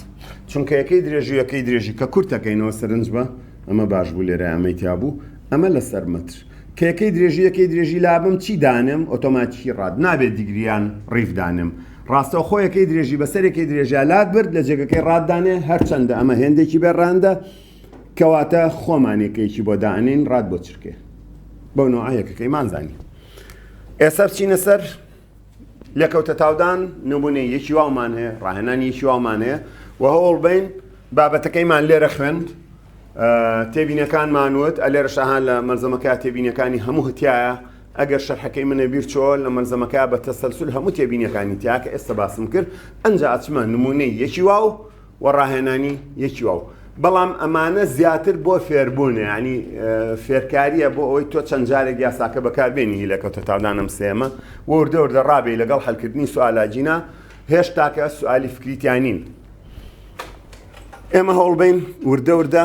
چونکە یەکەی درێژویەکەی درێژی کە کورتەکەینەوە سەرنج بە ئەمە باش بوو لێرە ئەمەی تیابوو ئەمە لەسەر مەتر کەکەی درێژی یەکەی درێژی لابم چی دانم ئۆتۆماتیکی ڕات نابێت دیگریان ڕیفدانم ڕاستەوخۆ یەکەی درێژی بەسەر یەکەی درێژە لات برد لە جێگەکەی ڕات دانێ هەرچەندە ئەمە هێندێکی بێ ڕاندە کەواتە خۆمان یەکەیەکی بۆ دانین ڕات بۆ چرکێ بەو نوع یەکەکەی مانزانی ئێسەر چینە سەر لەکەوتە تاودان نمونێ یەکی وامان هەیە ڕاهێنان یەکی وامان هەیە و هەوڵ بین بابەتەکەیمان لێرە خوێند تێبینەکانمانوت ئەلێرە شەهان لە مەرزەمەکە تێبینەکانی هەموو هەتایە ئەگەر شەرحەکەی من لەبیر چۆ لە مەلزەمەکە بە تەسەلسول هەموو تێبینیەکانی تیا کە ئێستا باسم کرد ئەنجا ئەچمە نموونەی یەکی واو و ڕاهێنانی یەکی واو بەڵام ئەمانە زیاتر بۆ فێربوونە یعنی فێرکاریە بۆ ئەوەی تۆ چەند جارێک یاساکە بەکاربێنی هی لەکەوتە تاودانم سێمە وردە وردە ڕابێ لەگەڵ هەلکردنی سوالاجینا هێشتاکە سوالی فکریتیانین ئێمە هەوڵبین وردە وردە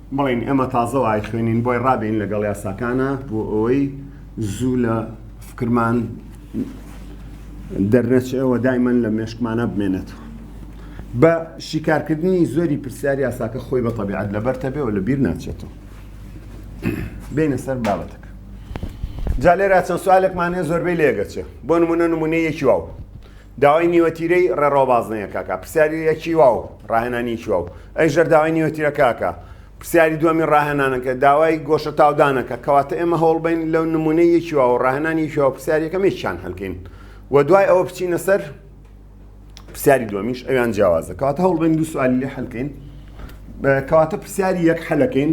بڵێین ئێمە تازە وایخوێنین بۆی ڕابین لەگەڵ یاساکانە بۆ ئەوەی زوو لە فکرمان دەرنەچێەوە دایمەن لە مێشکمانە بمێنێتەوە بە شیکارکردنی زۆری پرسیار یاساکە خۆی بە تەبیعات لەبەرتە بێەوە لە بیر ناچێتەوە بینە سەر بابەتەکە جا لێرا چەند سوالێکمانێ زۆربەی لێگەچێ بۆ نمونە نمونەیەکی واو داوای نیوەتیرەی ڕێڕەوە بازنەیەکەکە، پرسیاریەکی واو، ڕاهێنانیەکی واو. ئەی ژەر داوای نیوەتیرەکەکە؟ پرسیاری دوەمی ڕاهێنانەکە، داوای گۆشە تاودانەکە. کەواتە ئێمە هەوڵبەین لەو نمونەی یەکی واو و ڕاهێنانی یەکی واو پرسیار یەکەم یەکیان هەلکەین و دوای ئەوە بچینە سەر پرسیاری دوەمیش ئەویان جیاوازە کەواتە هەوڵبەین دوو سوالی لێ هەلکەین کەواتە پرسیاری یەک هەلەکەین.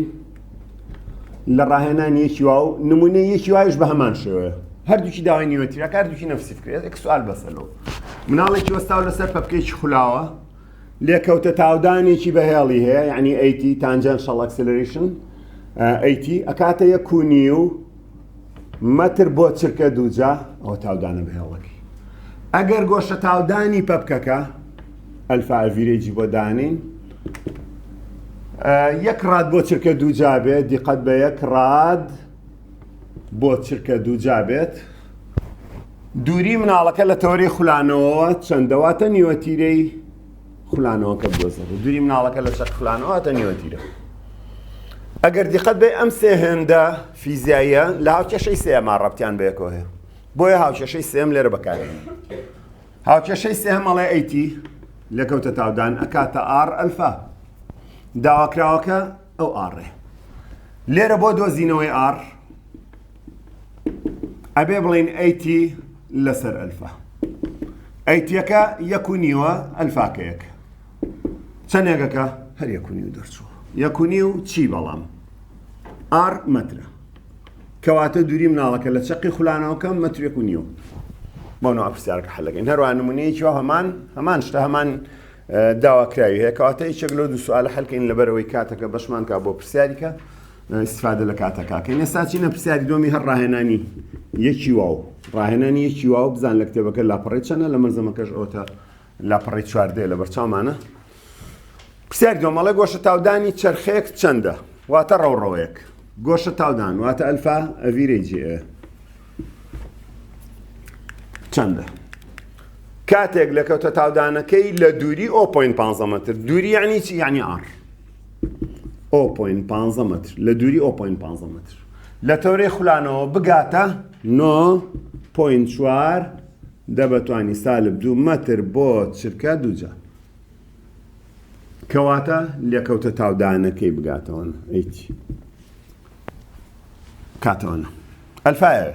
لە ڕاهێنانی یەکی واو نمونەی یەکی وایش بە هەمان شێوەیە هەردووکی داوای نیوەتیرەکە هەردووکی نەفسی کرێت ئەک سوال بەسەلەوە مناڵێکی وەستاو لەسەر پەپکێکی خولاوە لێکەوتە تاودانێکی بەهێڵی هەیە یعنی ئەیتی تانجان شەڵ ئەکسلریشن ئەیتی ئەکاتە یە کونی و مەتر بۆ چرکە دووجا ئەوە تاودانە بە هێڵەکەی ئەگەر گۆشە تاودانی پەپکەکە ئەلفاڤیرێجی بۆ دانین یەک ڕاد بۆ چرکە دووجا بێت دیقەت بە یەک ڕاد بۆ چرکە دووجا بێت دووری مناڵەکە لە تەوەری خولانەوە چەندەواتە نیوەتیرەی خولانەوەکە بدۆزن دووری مناڵەکە لە چەق خولانەوەتە نیوەتیرە ئەگەر دیقەت بێ ئەم سێ هێندە فیزیاییە لە هاوکێشەی سێما ڕەبتیان بەیەکەوە هەیە بۆیە هاوکێشەی سێم لێرە بەکارێن هاوکێشەی سێمەڵێ ئەیتی لە کەوتە تاودان ئەکاتە ئار ئەلفا داواکراوەکە ئەو ئاڕێ لێرە بۆ دۆزینەوەی ئار ئەبێ بڵین ئەیتی لەسەر ئەلفا ئەیتیەکە یەک و نیوە ئەلفاکە یەک چەندێکەکە هەر یەک و نیو دەرچوو یەک و نیو چی بەڵام ئار مەترە کەواتە دووری مناڵەکە لە چەقی خولانەوەکەم مەترێک و نیو بۆنەوە پرسیارکە حلەکەین هەروە نمونەیەکی هەمان هەمان شتە هەمان داواکراوی هەیە کەواتە یەکێک لەو دوو سوالە حلکەین لەبەرەوەی کاتەکە بەشمانکە بۆ پرسیاریکە ئیستفادە لە کاتەکە کەین ئێستا چینە پرسیاری دۆمی هەر ڕاهێنانی یەکی واو ڕاهێنانی یەکی واو بزان لە کتێبەکە لاپەڕی چەنە لە مەزەمەکەش ئەوتە لاپەڕی چواردەیە لە بەرچامانە پرسیار دۆمەڵێ گۆشە تاودانی چرخێک چەندە واتە ڕەوڕەوەیەک گۆشە تاودان واتە ئەلفا ئەڤیرەی جێ چەندە کاتێک لە کەوتە تاودانەکەی لە دووری ئۆ پوین 15 متر دووری یعنی چی یعنی ئار ئۆپۆین پانزە مەتر لە دووری ئۆپۆین پانزە مەتر لە تەورەی خولانەوە بگاتە نۆ پۆین چوار دەبەتوانی سالب دوو مەتر بۆ چرکە دووجار کەواتە لێکەوتە تاودانەکەی بگاتەوە ئەیچ کاتەوەە ئەلفاەوە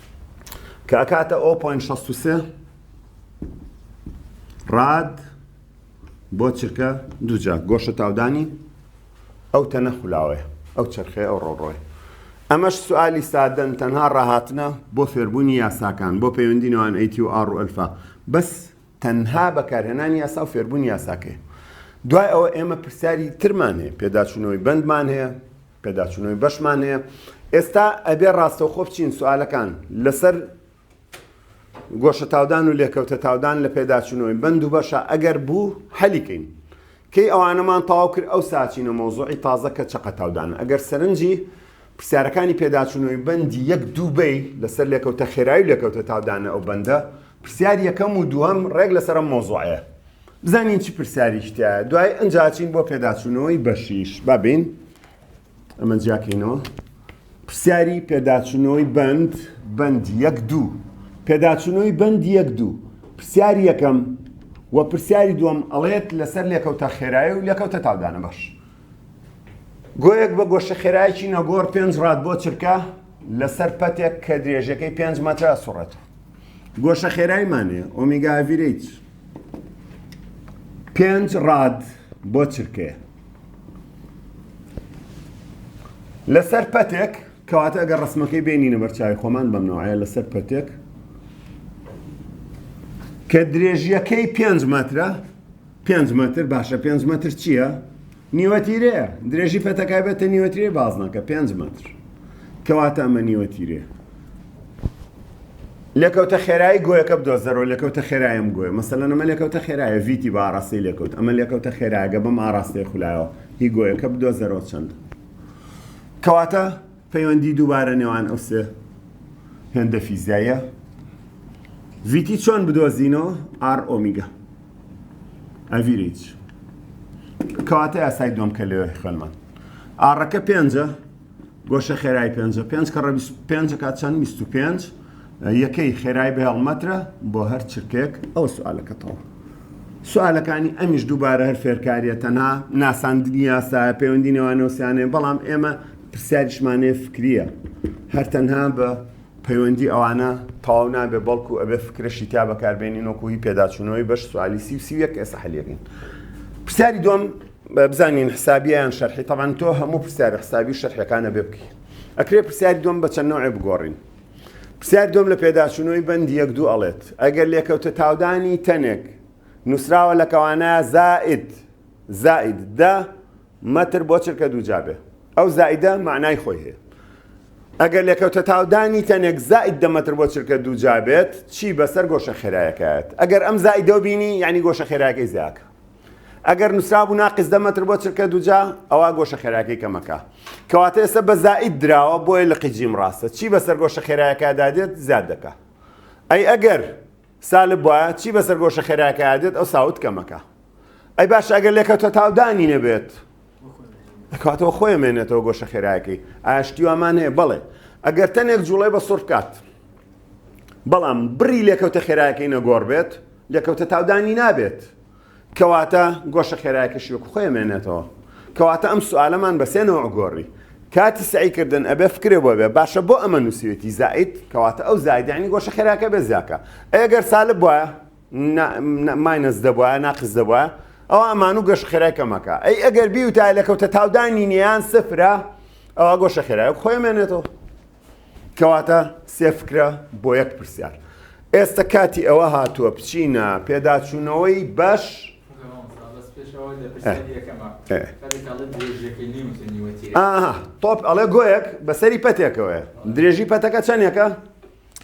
کە ئەکاتە ئۆ پۆینت شەست و سێ ڕاد بۆ چرکە دووجا گۆشە تاودانی ئەو تەنە خولاوەیە ئەو چرخەیە ئەو ڕۆڕۆی ئەمەش سوالی سادەن تەنها ڕاهاتنە بۆ فێربوونی یاساکان بۆ پەیوەندی نوان ئەیتی و ئاڕ و ئەلفا بەس تەنها بەکارهێنانی یاسا و فێربوونی یاساکەی دوای ئەوە ئێمە پرسیاری ترمان هەیە پێداچوونەوەی بەندمان هەیە پێداچونەوەی بەشمان هەیە ئێستا ئەبێ ڕاستەوخۆ بچین سوالەکان لەسەر گۆشە تاودان و لێکەوتە تاودان لە پێداچونەوەی بەند و بەشە ئەگەر بوو حەلیکەین کەی ئەوانەمان تاو کرد ئەو ساچینە مۆزوعی تازە کە چەقە تاودان ئەگەر سەرنجی پرسیارەکانی پێداچونەوەی بەندی یەک دووبەی لەسەر لێکەوتە خێرای لێکەوتە تاودانە ئەو بەندە پرسیار یەکەم و دووەم ڕێک لەسەرم مۆزوعەیە بزانین چ پرسیاریش تایە دوای ئەنجاچین بۆ پێداچوونەوەی بەشیش بابین ئەمە جیاکەینەوە پرسیاری پێداچوونەوەی بند بند یەک دوو پێداچوونەوەی بند یەک دوو پرسیار یەکەم و پرسیاری دووەم ئەڵێت لەسەر لێکەوتە خێرایی و لێکەوتە تاودانە باش گۆیەک بە گۆشە خێرایکی نەگۆڕ پێنج ڕات بۆ چرکە لەسەر پەتێک کە درێژەکەی پێنج مەترە سوڕێت گۆشە خێرایمانێ ئۆمیگاڤیرەیت پێنج ڕاد بۆ چرکەیە لەسەر پەتێک کەواتە ئەگەر ڕسمەکەی بینینە بەرچوی خۆمان بەم نوعە لەسەر پەتێک کە درێژیەکەی پێنج مەترە پێنج مەتر باشە پێنج مەتر چییە؟ نیوەتیرە، درێژی پەتەکایبەتە نیوەتیرەی بازنەکە، پێنج مەتر، کەواتە ئەمە نیوەتیرەیە. لێکەوتە خێرایی گۆیەکە بدۆزەرەوە لێکەوتە خێرایم گۆیە مەسەلەن ئەمە لێکەوتە خێرایە ڤیتی بە ئاراستەی لێکەوت ئەمە لێکەوتە خێراگە بەم ئاراستەی خولایەوە هی گۆیەکە بدۆزەرەوە چەند کەواتە پەیوەندی دووبارە نێوان ئەو سێ هێندە فیزایە ڤیتی چۆن بدۆزینەوە ئار ئۆمیگە ئەڤیریج کەواتە یاسای دووەم کە لەوێ خوێنمان ئاڕەکە پێنجە گۆشە خێرای پێنجە پێنج کە ڕە پێنج کات چەند بیست و پێنج یەکەی خێرای بە هەڵمەترە بۆ هەر چرکێک ئەو سوالەکەتەوە سوالەکانی ئەمیش دووبارە هەر فێرکاریە تەنها ناساندنی یاسایە پەیوەندی نێوانەوەسیانەیە بەڵام ئێمە پرسیاریشمانەیە فکریە هەر تەنها بە پەیوەندی ئەوانە تەواو نابێت بەڵکو ئەبێت فکرەشی تیا بەکاربێنین وەکو هی پێداچوونەوەی بەش سوالی سی و سی و یەک ئێستا حەلیەکەین پرسیاری دوم بزانین حسابیان شەرحی طبعا تۆ هەموو پرسیار حسابی شەرحەکانە بێ بکەین ئەکرێ پرسیاری دوم بە چەند نوعێ بگۆڕین پرسیار دوم لە پێداچوونەوەی بەندی یەک دوو ئەڵێت ئەگەر لێکەوتە تاودانی تەنێک نووسراوە لە کەوانە زائد زائد دە مەتر بۆ چرکە دووجا بێ ئەو زائیدە مەعنای خۆی هەیە ئەگەر لێکەوتە تاودانی تەنێک زائید دە مەتر بۆ چرکە دووجا بێت چی بەسەر گۆشە خێرایەکەت ئەگەر ئەم زائیدە و بینی یعنی گۆشە خێراکەی زیاکە ئەگەر نووسرابوو ناقیز دە مەتر بۆ چرکە دووجا ئەوە گۆشە خێراکەی کەمەکە کەواتە ئێستا بە زائید دراوە بۆیە لە قیجیم ڕاستە چی بەسەر گۆشە خێراکەدا دێت زیاد دەکە ئەی ئەگەر سالب بوایە چی بەسەر گۆشە خێرایەکەیا دێت ئەو ساوت کەمەکە ئەی باش ئەگەر لێکەوتە تاودانی نەبێت دەکاتەوە خۆی مێنێتەوە گۆشە خێرایەکەی ئاشتی وامان هەیە بەڵێ ئەگەر تەنێک جوڵەی بە سڕ بکات بەڵام بڕی لێکەوتە خێرایەکەی نەگۆڕ بێت لێکەوتە تاودانی نابێت کەواتە گۆشە خێرایەکەشی وەکو خۆی ئەمێنێتەوە کەواتە ئەم سوالەمان بە سێ نەوع گۆڕی کاتی سەعی کردن ئەبێ فکرێ بۆ بێ باشە بۆ ئەمە نووسیوێتی زائید کەواتە ئەو زائید یعنی گۆشە خێراکە بێ زیاکە ئەگەر سالب بوایە ماینەس دەبوایە ناقص دەبوایە ئەوە ئەمان و گەش خێرای کەمەکە ئەی ئەگەر بیوتای لە کەوتە تاودانی نیان سفرە ئەوە گۆشە خێرای خۆی مێنێتەوە کەواتە سێ فکرە بۆ یەک پرسیار ئێستا کاتی ئەوە هاتووە بچینە پێداچوونەوەی بەش تۆپ ئەڵێ گۆیەک بەسەری پەتێکەوەە درێژی پەتەکە چەندێکە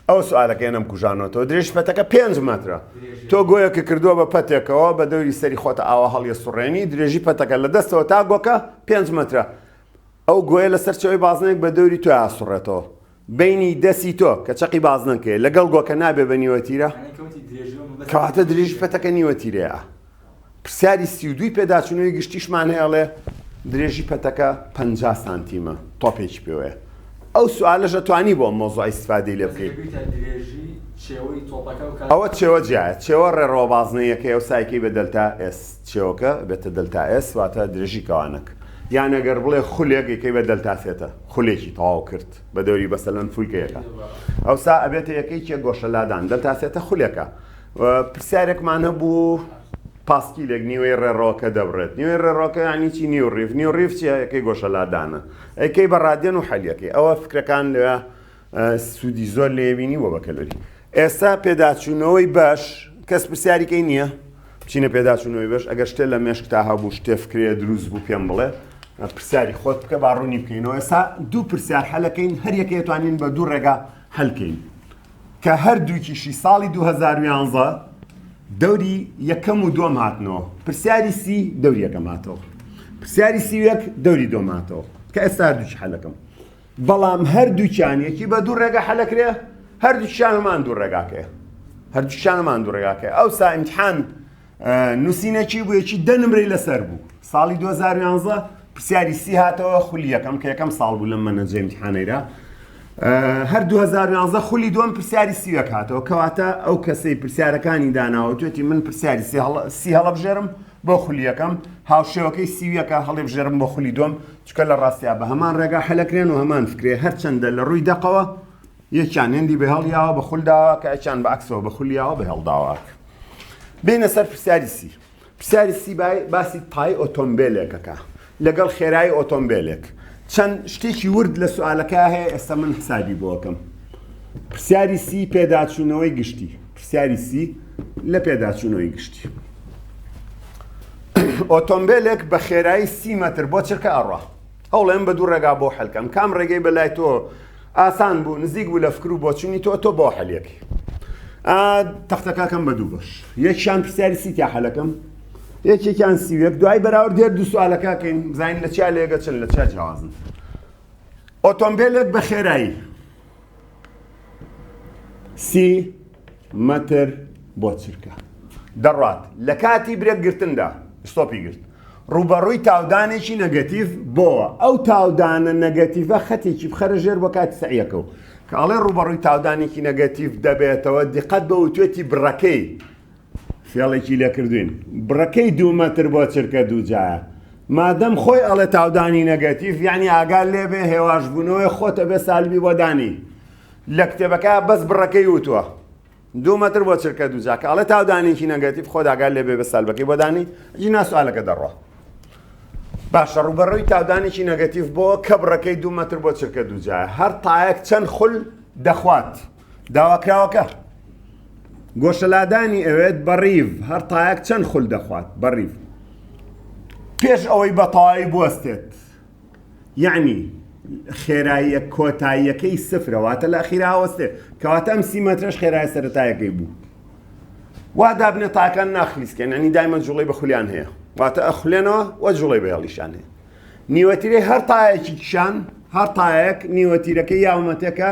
ئەو سوالەکە نەم کوژانەوەەوە درێژ پەتەکە پێنج مەترە تۆ گۆیەکە کردووە بە پەتێکەوە بە دەوری سەری خۆتە ئاوا هەڵیە سوڕێنی درێژی پەتەکە لە دەستەوە تا گۆکە پێنج مەترە ئەو گۆیە لە سەرچەوەی بازنەیەک بە دەوری تۆ ئاسوڕێتەوە بینی دەسی تۆ کە چەقی بازنەکەی لەگەڵ گۆکە نابێ بە نیوەتیرە کەواتە درێژ پەتەکە نیوەتیرەیە پرسیاری سی و دوی پێداچنەوەی گشتیشمان هەیەڵێ درێژی پەتەکە پ سانتیمە تۆپێکی پێوەیە ئەو سوالە ژەتوانی بۆ مۆزای سفادی لێ بکەیت ئەوە چێوە جیایە چێوە ڕێڕەوە بازنەیەکەی ئەو سایکەی بەدەلتا ئێس چێوەکە بێتە دەلتا ئێس واتە درێژی کەوانەک یان ئەگەر بڵێ خولێک یکەی بە دەلتا سێتە خولێکی تەواو کرد بە دەوری بەسەلەن فولکەیەکە ئەوسا ئەبێتە یەکەی کێ گۆشە لادان دەلتا سێتە خولێکە پرسیارێکمان هەبوو پاسکیلێک نیوەی ڕێڕۆکە دەبڕێت نیوەی ڕێڕۆکە ینی چی نیو ڕیف نیو ڕیف چیە یەکەی گۆشە لادانە ئەیکەی بە ڕادێن و حەلیەکەی ئەوە فکرەکان لە سودی زۆر لێوینی وە بە کەلەری ئێستا پێداچوونەوەی باش کەس پرسیاریکەی نییە بچینە پێداچوونەوەی بەش ئەگەر شتێ لە مێشک تا هەبوو شتێ فکرێ دروست بوو پێم بڵێ پرسیاری خۆت بکە با ڕوونی بکەینەوە ئێستا دوو پرسیار حەلەکەین هەر یەکەیەتوانین بە دوو ڕێگا هەلکەین کە هەر دووکیشی ساڵی 2011 دەوری یەکەم و دوم هاتنەوە پرسیاری سی دەوری یەکەم هاتەوە پرسیاری سیوەک دەوری دۆماتەوە کە ئێستا دووش حەلەکەم بەڵام هەردووکیان یەکی بە دوو ڕێگا حەلەکرێ هەردووکیان هەمان دوو ڕێگاکەیە هەردووکیان هەمان دوو ڕێگاکەی ئەوسا ئیمتحان نووسینەکی بوو یەکی دە نمرەی لەسەر بوو ساڵی 2011 پرسیاری سی هاتەوە خولی یەکەم کە یەکەم ساڵ بوو لەم مەنەجە ئیمتحانەیرا هەر 2011 خولی دوم پرسیاری سیوەک هاتەوە کەواتە ئەو کەسەی پرسیارەکانی داناوە توێتی من پرسیاری سی هەڵە بژێرم بۆ خولی یەکەم هاوشێوەکەی سیویەکە هەڵیبژێرم بۆ خولی دووەم چکە لە ڕاستیا بە هەمان ڕێگا حەلەکرێن و هەمان فکرێ هەرچەندە لە ڕووی دەقەوە یەکیان هێندی بەهێڵیاوە بە خول داواکە ئەچان بە عکسەوە بە خولیاوە بەهێڵ داواکە بینە سەر پرسیاری سی پرسیاری سی باسی پای ئۆتۆمبیلێکەکە لەگەڵ خێرایی ئۆتۆمبێلێک. چەند شتێکی ورد لە سوالەکە هەیە ئێستا من حسابی بۆ ئەکەم. پرسیاری سی پێداچوونەوەی گشتی. پرسیاری سی لە پێداچوونەوەی گشتی. ئۆتۆمبێلێک بە خێرایی سی مەتر بۆ چرکە ئەڕا. هەوڵێن بە دوو ڕێگا بۆ حلکەم کام ڕێگەی بە لای تۆ ئاسان بوو نزیک بوو لە فکر و بۆچوونی تۆ تۆ بۆ حەلەکەی. تەختەکەکەم بە دوو بەش یەکیان پرسیاری سیتیا حەلەکەم. یەکێکیان سی و یەک دوای بەراورد دێت دوو سوالەکە کەین بزانین لە چیا لێگە چن لە چیا جیاوازن ئۆتۆمبیلێک بە خێرایی سی مەتر بۆ چرکە دەڕات لە کاتی برێک گرتندا ستۆپی گرت ڕوبەڕووی تاودانێکی نەگەتیف بۆوە ئەو تاودانە نەگەتیڤە خەتێکی بخەرە ژێر بۆ کاتی سعیەکە و کاڵێ ڕوبەڕووی تاودانێکی نەگەتیف دەبێتەوە دیقەت بە وتێتی بڕەکەی فێڵێکی لێ کردووین بڕەکەی دوو مەتر بۆ چرکە دوو جایە مادەم خۆی ئەڵێ تاودانی نەگەتیف یعنی ئاگال لێ بێ هێواش بوونەوەی خۆتە بێ سالبی بۆ دانی لە کتێبەکە بەس بڕەکەی وتووە دوو مەتر بۆ چرکە دوو جاکە ئەڵێ تاودانێکی نەگەتیف خۆ ئاگال لێ بێ بە سالبەکەی بۆ دانی جی ناسوالەکە دەڕۆ باشە ڕوبەڕووی تاودانێکی نەگەتیف بۆ کە بڕەکەی دوو مەتر بۆ چرکە دوو جایە هەر تایەک چەند خول دەخوات داواکراوەکە گۆشەلادانی ئەوێت بە ڕیڤ هەر تایەک چەند خول دەخوات بە ڕیڤ پێش ئەوەی بە تەواوی بوەستێت یعنی خێراییە کۆتاییەکەی سفرەواتە لە خیراوەستێ کەواتە ئەم سی مەترش خێرای سەرتایەکەی بوو وا دابنە تاکان ناخلیسکەن ئەنی دایمە جوڵی بە خولیان هەیە واتە ئەخولێنەوە و جوڵی بە هێڵیشان هەیە نیوەتیرەی هەر تایەکی کشان هەر تایەک نیوەتیرەکە یاومەتەکە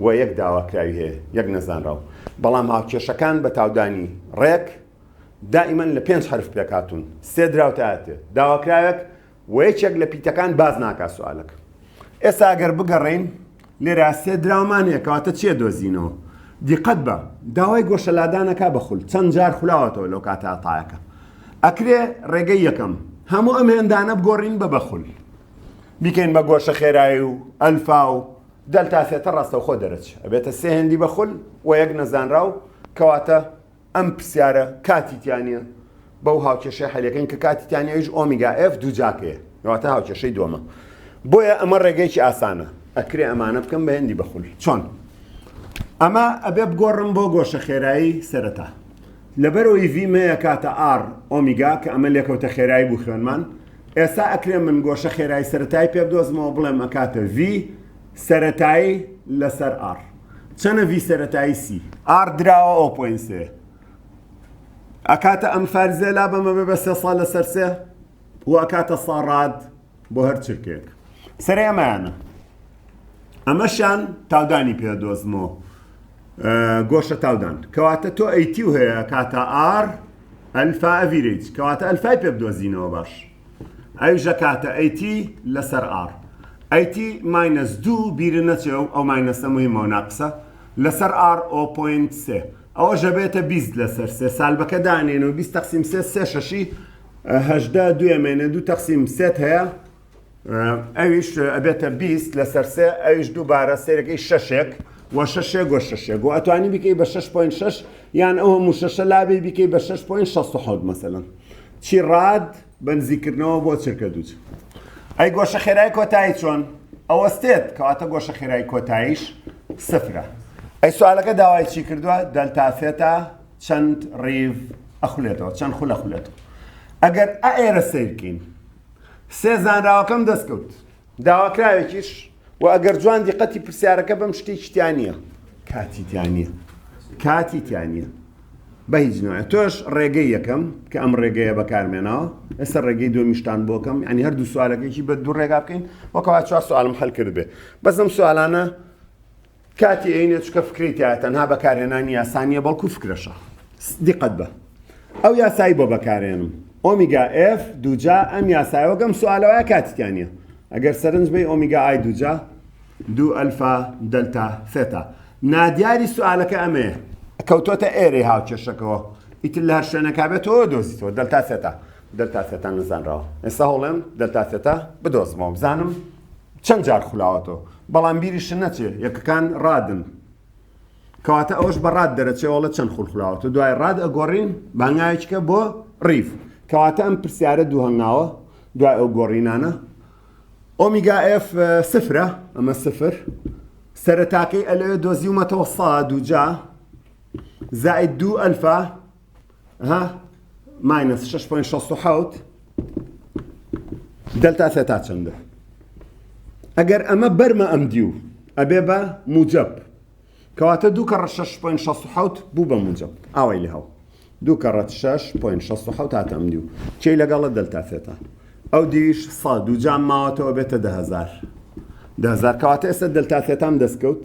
و یەک داواکراوی هەیە یەک نەزانراو بەڵام هاوکێشەکان بە تاودانی ڕێک دائیمەن لە پێنج حرف پێکاتون سێ دراوتاتێ داواکراوێک و یەکێک لە پیتەکان باز ناکا سوالەکە ئێستا ئەگەر بگەڕین لێرا سێ دراومان هەیە کەواتە چێ دۆزینەوە دیقەت بە داوای گۆشەلادانەکە بەخول چەند جار خولاوەتەوە لەو کاتە تاەکە ئەکرێ ڕێگەی یەکەم هەموو ئەم هێندانە بگۆڕین بە بەخول بیکەین بە گۆشە خێرایی و ئەلفا و دەلتا سێتە ڕاستەوخۆ دەرەچێ ئەبێتە سێ هێندی بە خول و یەک نەزانراو کەواتە ئەم پرسیارە کاتی تیا نیە بەو هاوکێشەی حەلیەکەین کە کاتی تیا نیە ئەویش ئۆمیگا ئێف دوو جا پێ کەواتە هاوکێشەی دووەمە بۆیە ئەمە ڕێگەیەکی ئاسانە ئەکرێ ئەمانە بکەم بە هێندی بە خول چۆن ئەمە ئەبێ بگۆڕم بۆ گۆشە خێرایی سەرەتا لەبەرەوەی ڤی مەیە کاتە ئاڕ ئۆمیگا کە ئەمە لێکەوتە خێرایی بوو خوێنمان ئێستا ئەکرێ من گۆشە خێرای سەرەتایی پێ بدۆزمەوە بڵێم ئەکاتە ڤی سەرەتایی لەسەر ئاڕ چەنە ڤی سەرەتایی سی ئاڕ دراوە ئەو پۆین سێ ئەکاتە ئەم فەرزێ لا بەمە بێ بە سێ ساڵ لەسەر سێ و ئەکاتە ساڕاد بۆ هەر چرکێک سەرێ ئەمانە ئەمەشان تاودانی پێ دۆزمەوە گۆشە تاودان کەواتە تۆ ئەیتی و هەیە کاتا ئار ئەلفا ئەڤیرەیج کەواتە ئەلفای پێ بدۆزینەوە باش ئەویش ئەکاتە ئەیتی لەسەر ئاڕ ئەیتی ماینەس دوو بیرە نەچێ و ئەو ماینەسە مهمە و ناقسە لەسەر ئاڕ ئۆ پۆینت سێ ئەوەش ئەبێتە بیست لەسەر سێ سالبەکە دانێن و بیست تەقسیم سێ سێ شەشی هەژدە دوێمێنێ دوو تەقسیم سێت هەیە ئەویش ئەبێتە بیست لەسەر سێ ئەویش دووبارە سێرەکەی شەشێک و شەشێ گۆ شەشێک و ئەتوانی بکەی بە 6.6 یان ئەو هەموو شەشە لابێ بکەی بە 6.6 مەسەن چی ڕاد بەنزیکردنەوە بۆ چرکە دووچ ئەی گۆشە خێرای کۆتایی چۆن ئەوەستێت کەواتە گۆشە خێرای کۆتاییش سفرە ئەی سوالەکە داوای چی کردووە دەلتافێتە چەند ڕیڤ ئەخولێتەوە چەند خولە خولێتەوە ئەگەر ئەئێرە سیرکین سێ زانراوەکەم دەست کەوت. داواکراوێکیش و ئەگەر جوان دیقەتی پرسیارەکە بم شتێکی تیا نییە. کاتی تیا نییە. کاتی تیا نییە. بە هیچ نوێ تۆش ڕێگەی یەکەم کە ئەم ڕێگەیە بەکارمێنەوە ئێستا ڕێگەی دومیشتان بۆکەم ئەنی هەردوو سوالەکەیکی بە دوو ڕێگا بکەین وەکەوا چوار سوالم هەلکرد بێ بەسم سوالانە کاتی ئەینێ چکە فکری تایە تەنها بەکارهێنانی یاسا نییە بەڵکو فکرەشە دیقەت بە ئەو یاسایی بۆ بەکارێنم ئۆمیگا ئف دوجا ئەم یاسایەوە گەم سوالەوە کاتیان نیە ئەگەر سەرنج بی ئۆمیگا ئای دوجا دو ئەلفا دەلتا فێتا نادیاری سوالەکە ئەمەیە کەوتۆتە ئێرەی هاوکێشەکەەوە ئیتر لە هەر شوێنەکە بێتەوە دۆزیتەوە دەلتا فێتا دەلتا فێتا نزانراوە ئێستا هەڵێم دەلتا فێتا بدۆزمەوە بزانم چەند جار خولاوەتەوە بەڵام بیریشت نەچێ یەکەکان ڕادن کەواتە ئەوش بە ڕاد دەرەچێ وڵە چەند خول خولاوەتە دوای ڕاد ئەگۆڕین بانگایچکە بۆ ڕیف کەواتە ئەم پرسیارە دوو هەنگاوە دوای ئەو گۆڕینانە ئۆمیگا ئف سفرە ئەمە سفر سەرتاکەی ئەلەوێ دۆزیومەتەوە سا دوجا زائد دوو ئەلفا ها ماینەس 6.67 دەلتا سێتا چەندە ئەگەر ئەمە بەرمە ئەم دیو ئەبێ بە موجب کەواتە دوو کەڕە 6.67 بوو بە موجب ئاوای لە هەو دوو کەڕەت 6.67 هاتەم دیو چی لەگەڵە دەلتا سێتا ئەو دیویش سا دوو جام ماوەتەوە بێتە دههزار دههزار کەواتە ئێستا دەلتا سێتام دەستکەوت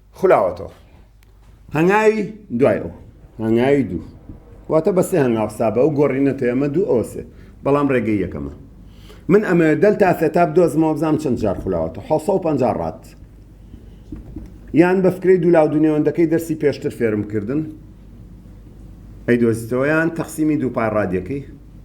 خلاوەتەوە هەنگاوی دوای ئەو هەنگاوی دوو واتە بە سێ هەنگاو حسابە ئەو گۆڕینە تێ ئەمە دوو ئەوە سێ بەڵام ڕێگەی یەکەمە من ئەمە دەل تا سێتا بدۆزمەوە بزانم چەند جار خلاوەتە 1950 ڕات یان بە فکرەی دوولاو دونێوەندەکەی دەرسی پێشتر فێرم کردن ئەی دۆزیتەوەیان تەقسیمی دووپای ڕادیەکەی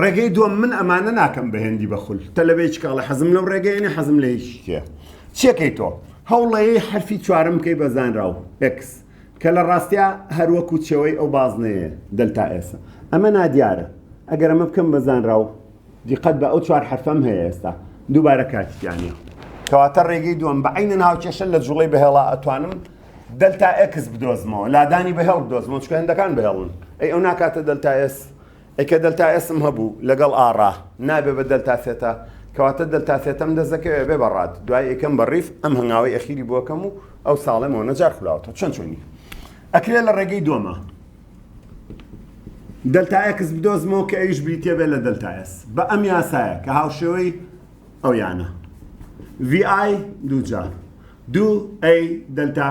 ڕێگەی دووەم، من ئەمانە ناکەم بە هێندی بە خول، تەلەبەی چکاڵە حەزم لەو ڕێگەیە نیە، حەزم لە هیچ شتێ. چیەکەی تۆ؟ هەوڵەی حەرفی چوارەم بکەی بە زانراو، ئێکس، کە لە ڕاستیا هەر وەکو چێوەی ئەو بازنەیە، دەلتا ئێسە. ئەمە نادیارە. ئەگەر ئەمە بکەم بە زانراو، دیقەت بە ئەو چوار حەرفەم هەیە ئێستا، دووبارە کاتی تیا نیە. کەواتە ڕێگەی دووەم، بە عەینەن هاوکێشە لە جوڵەی بەهێڵا ئەتوانم دەلتا ئێکس بدۆزمەوە، لادانی بەهێڵ بدۆزمەوە، چونکە هێندەکان بەهێڵن. ئەی ئەو ناکاتە دەلتا ئێس؟ ئەی کە دەلتا ئێسم هەبوو لەگەڵ ئاڕا نابێ بە دەلتا سێتا کەواتە دەلتا سێتەم دەست دەکەوێ بێ بە ڕات دوای ئێکەم بە ڕیف ئەم هەنگاوەی ئەخیری بۆ ئەکەم و ئەو ساڵێ مۆنە جار خولاوەتەوە چۆن چۆنی ئەکرێ لە ڕێگەی دۆمە دەلتا ئێکس بدۆزمەوە کە ئەویش بریتیە بێ لە دەلتا ئێس بە ئەم یاسایە کە هاوشێوەی ئەو یانە ڤی ئای دوو جا دوو ئەی دەلتا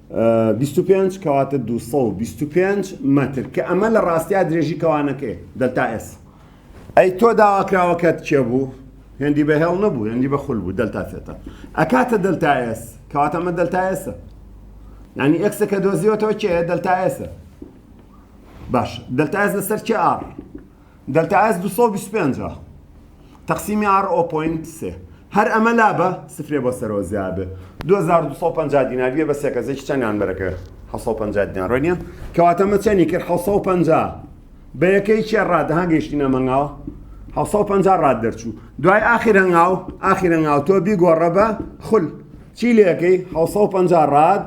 بیست و پێنج کەواتە دوو سەد و بیست و پێنج مەتر کە ئەمە لە ڕاستیا درێژی کەوانەکەی دەلتا ئێس ئەی تۆ داواکراوەکەت کێ بوو هێندی بە هێڵ نەبوو هێندی بە خول بوو دەلتا فێتە ئەکاتە دەلتا ئێس کەواتە ئەمە دەلتا ئێسە ینی ئەکسەکە دۆزیەوەتەوە کێ دەلتا ئێسە باش دەلتا ئێس لەسەر کێ ئاڕ دەلتا ئێس دوو سەد و بیست و پێنج تەقسیمی ئاڕ ئۆ پۆینت سێ هەر ئەمە لابە سفرێ بۆ سەرەوە زیا بێ دوو هەزار و دوو سەد و پەنجا دینار بێ بە سێکەزێکی چەندیان بەرەکە حەوت سەد و پەنجا دینار ڕێ نییە کەواتە مە چەنی کرد حەوت سەد و پەنجا بە یەکەی چێ ڕاد ها گەیشتینە مەنگاوە حەوت سەد و پەنجا ڕاد دەرچوو دوای ئاخیر هەنگاو ئاخیر هەنگاو تۆ بیگۆڕە بە خول چی لەکەی حەوت سەد و پەنجا ڕاد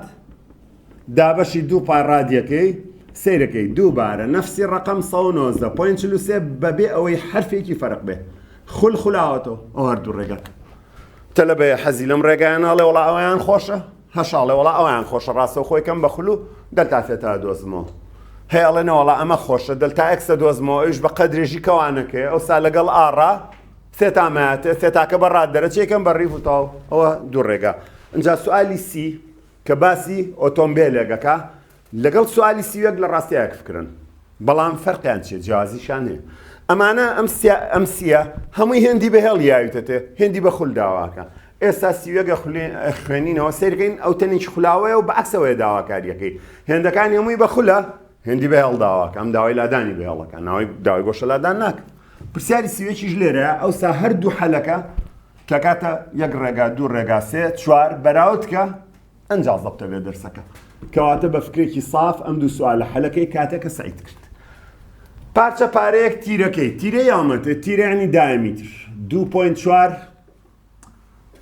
دابەشی دوو پار ڕادیەکەی سەیرەکەی دووبارە نەفسی ڕەقەم سەد و نۆزدە پۆینت چل و سێ بەبێ ئەوەی حەرفێکی فەرق بێ خول خولاوەتەوە ئەو هەردوو ڕێگا تەلەبەیە حەزی لەم ڕێگایان ناڵێ وڵا ئەویان خۆشە هەشاڵێ وڵا ئەویان خۆشە ڕاستە خۆی کەم بە خولو دەلتا فێتا دۆزمەوە هەیە ئەڵێ نەوەڵا ئەمە خۆشە دەلتا ئەکسە دۆزمەوە ئەوش بە قەدرێژی کەوانەکەی ئەو سا لەگەڵ ئاڕا فێتامایەتێ فێتاکە بە ڕات دەرەچێکم بە ڕیف و تاو ئەوە دوو ڕێگا ئەجا سوالی سی کە باسی ئۆتۆمبێلێک ئەکا لەگەڵ سوالی سیوێک لە ڕاستی ئەک فکرن بەڵام فەرقیان چیە جیازیشان هەیە ئەمانە ئەم سیە هەمووی هێندی بە هێڵ یاویتەتێ هێندی بە خول داواکە ئێستا سیوێگە خوێنینەوە سەیرکەین ئەو تەنیش خولاوەیە و بەعکسەوەی داواکاریەکەی هێندەکان هەمووی بە خولە هێندی بە هێڵ داواکە ئەم داوای لادانی بە هێڵەکە ناوی داوای گۆشە لادان ناکە پرسیاری سیوێکیش لێرە ئەوسا هەردوو حەلەکە کەکاتە یەک ڕێگا دوو ڕێگا سێ چوار بەراوتکە ئەنج زەبتە بێ دەرسەکە کەواتە بە فکرێکی ساف ئەم دوو سوال لە حەلەکەی کاتێکە سعیت کرد پارچە پارەیەک تیرەکەی تیرە یامەتە تیرانی دایمیتر 2.4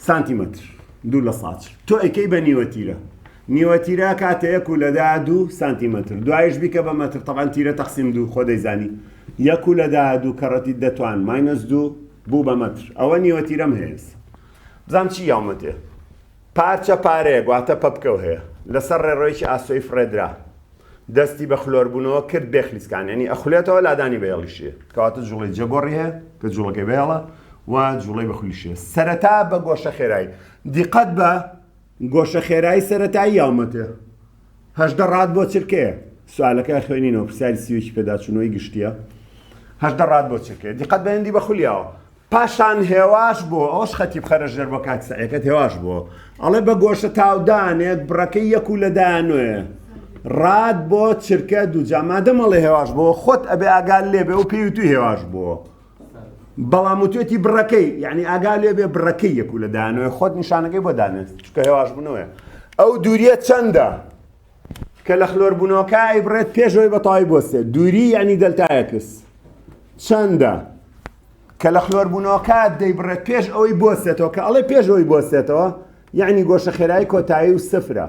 سانتیمەتر دوو لە ساچ تۆ ئەیکەی بە نیوە تیرە نیوە تیرە کاتەیەک و لەدا دوو سانتیمەتر دوایش بیکە بە مەتر تەبان تیرە تەقسیم دوو خۆ دەیزانی یەک و لەدا دوو کەڕەتی دەتوان ماینەس دوو بوو بە مەتر. ئەوە نیوەتیرەم هەیەس. بزانم چی یاومەتێ. پارچە پارەیەک، واتە پەپکە و هەیە. لەسەر ڕێڕەوێکی ئاسۆی فڕێدرا. دەستی بە خلۆربوونەوە کرد، بێ خلیسکان. یانی ئەخولێتەوە، لادانی بە هێڵیش هەیە. کەواتە جووڵەی جەگۆڕی هەیە، کە جووڵەکەی بە هێڵە و جووڵەی بە خولیش هەیە. سەرەتا بە گۆشەخێرایی. دیقەت بە گۆشەخێرایی سەرەتایی یاومەتێ. هەژدە ڕات بۆ چرکەیە سوالەکە خوێنینەوە پرسیاری سیوێکی پێداچوونەوەی گشتیە هەژدە ڕات بۆ چرکەیە دیقەت بەندی بە خولیاوە پاشان هێواش بۆ ئەوش خەتی بخەرە ژێر بۆ کات سەعەکەت هێواش بۆ ئەڵێ بە گۆشە تاودانێک بڕەکەی یەک و لەدانێ ڕات بۆ چرکە دوو جامادەمەڵێ هێواش بۆ خۆت ئەبێ ئاگال لێبێ و پێویتوی هێواش بووە بەڵام وتێتی بڕەکەی یعنی ئاگا لێ بێ بڕەکەی یەک و لە دانوێ خۆت نیشانەکەی بۆ دانێت چکە هێواش بنەوەە ئەو دووریە چەندە کە لە خلۆر بوونەوەکە ئەیبڕێت پێشەوەی بەتەواوی بۆسێت دووری یعنی دەلتایەکس چەندە کە لە خلۆر بوونەوەکە دەیبڕێت پێش ئەوەی بۆسێتەوە کە ئەڵێ پێشەوەی بۆسێتەوە یەعنی گۆشە خێرای کۆتایی و سفرە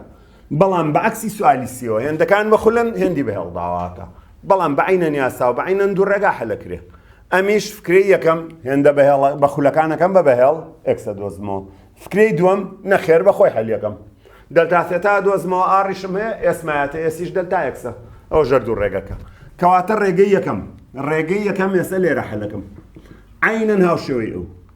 بەڵام بە عەکسی سوالی سیەوە هێندەکان بە خولەن هێندی بە هێڵداواکە بەڵام بە عەینەن یاسا و بە عەینەن دوو ڕێگا حەلەکرێ ئەمیش فکرەی یەکەم هێندە بە هێڵە بە خولەکانەکەم بە بە هێڵ ئێکسە دۆزمەوە فکرەی دووەم نەخێر بە خۆی حەلیەکەم دەلتا سێتا دۆزمەوە ئاڕیشم هەیە ئێسمایەتە ئێسیش دەلتا ئێکسە ئەو ژەر دوو ڕێگەکە کەواتە ڕێگەی یەکەم ڕێگەی یەکەم ئێسە لێرە حەلەکەم عەینەن هاوشێوەی ئەو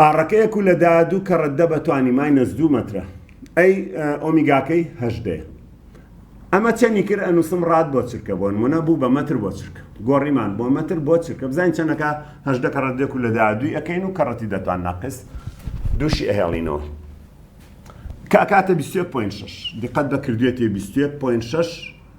ئاڕەکە یەک و لە دایە دوو کەڕە دە بە توانی مای نەس دوو مەترە ئەی ئۆمیگاکەی هەژدەیە ئەمە چەنی کرد ئەنووسم ڕات بۆ چرکە بۆ نمونە بوو بە مەتر بۆ چرکە گۆڕیمان بۆ مەتر بۆ چرکە بزانین چەنەکە هەژدە کەڕەت دێک و لە دایە دووی ئەەکەین و کەڕەتی دەتوان ناقس دووشی ئەهێڵینەوە کاکاتە 21.6 دقەت بە کردوێتی 21.6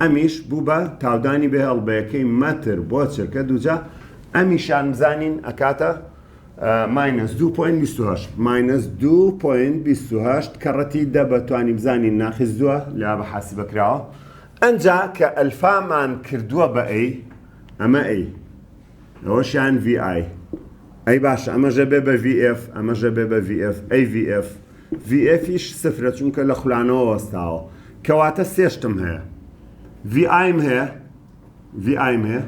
ئەمیش بوو بە تاودانی بێ ئەڵبەیەکەی مەتر بۆ چرکە دووجا ئەمیشان بزانین ئەکاتە ماینەس دوو پۆینت بیست و هەشت ماینەس دوو پۆینت بیست و هەشت کە ڕەتی دە بە توانی بزانین ناقیس دووە لە بە حاسبە کراوە ئەنجا کە ئەلفامان کردووە بە ئەی ئەمە ئەی ئەوەش یان ڤی ئای. ئەی باشە ئەمەش ئەبێ بە ڤی ئێف، ئەمەش ئەبێ بە ڤی ئێف. ئەی ڤی ئێف؟ ڤی ئێفیش سفرە چونکە لە خولانەوە وەستاوە. کەواتە سێ شتم هەیە. ڤی ئایم هەیە، ڤی ئایم هەیە.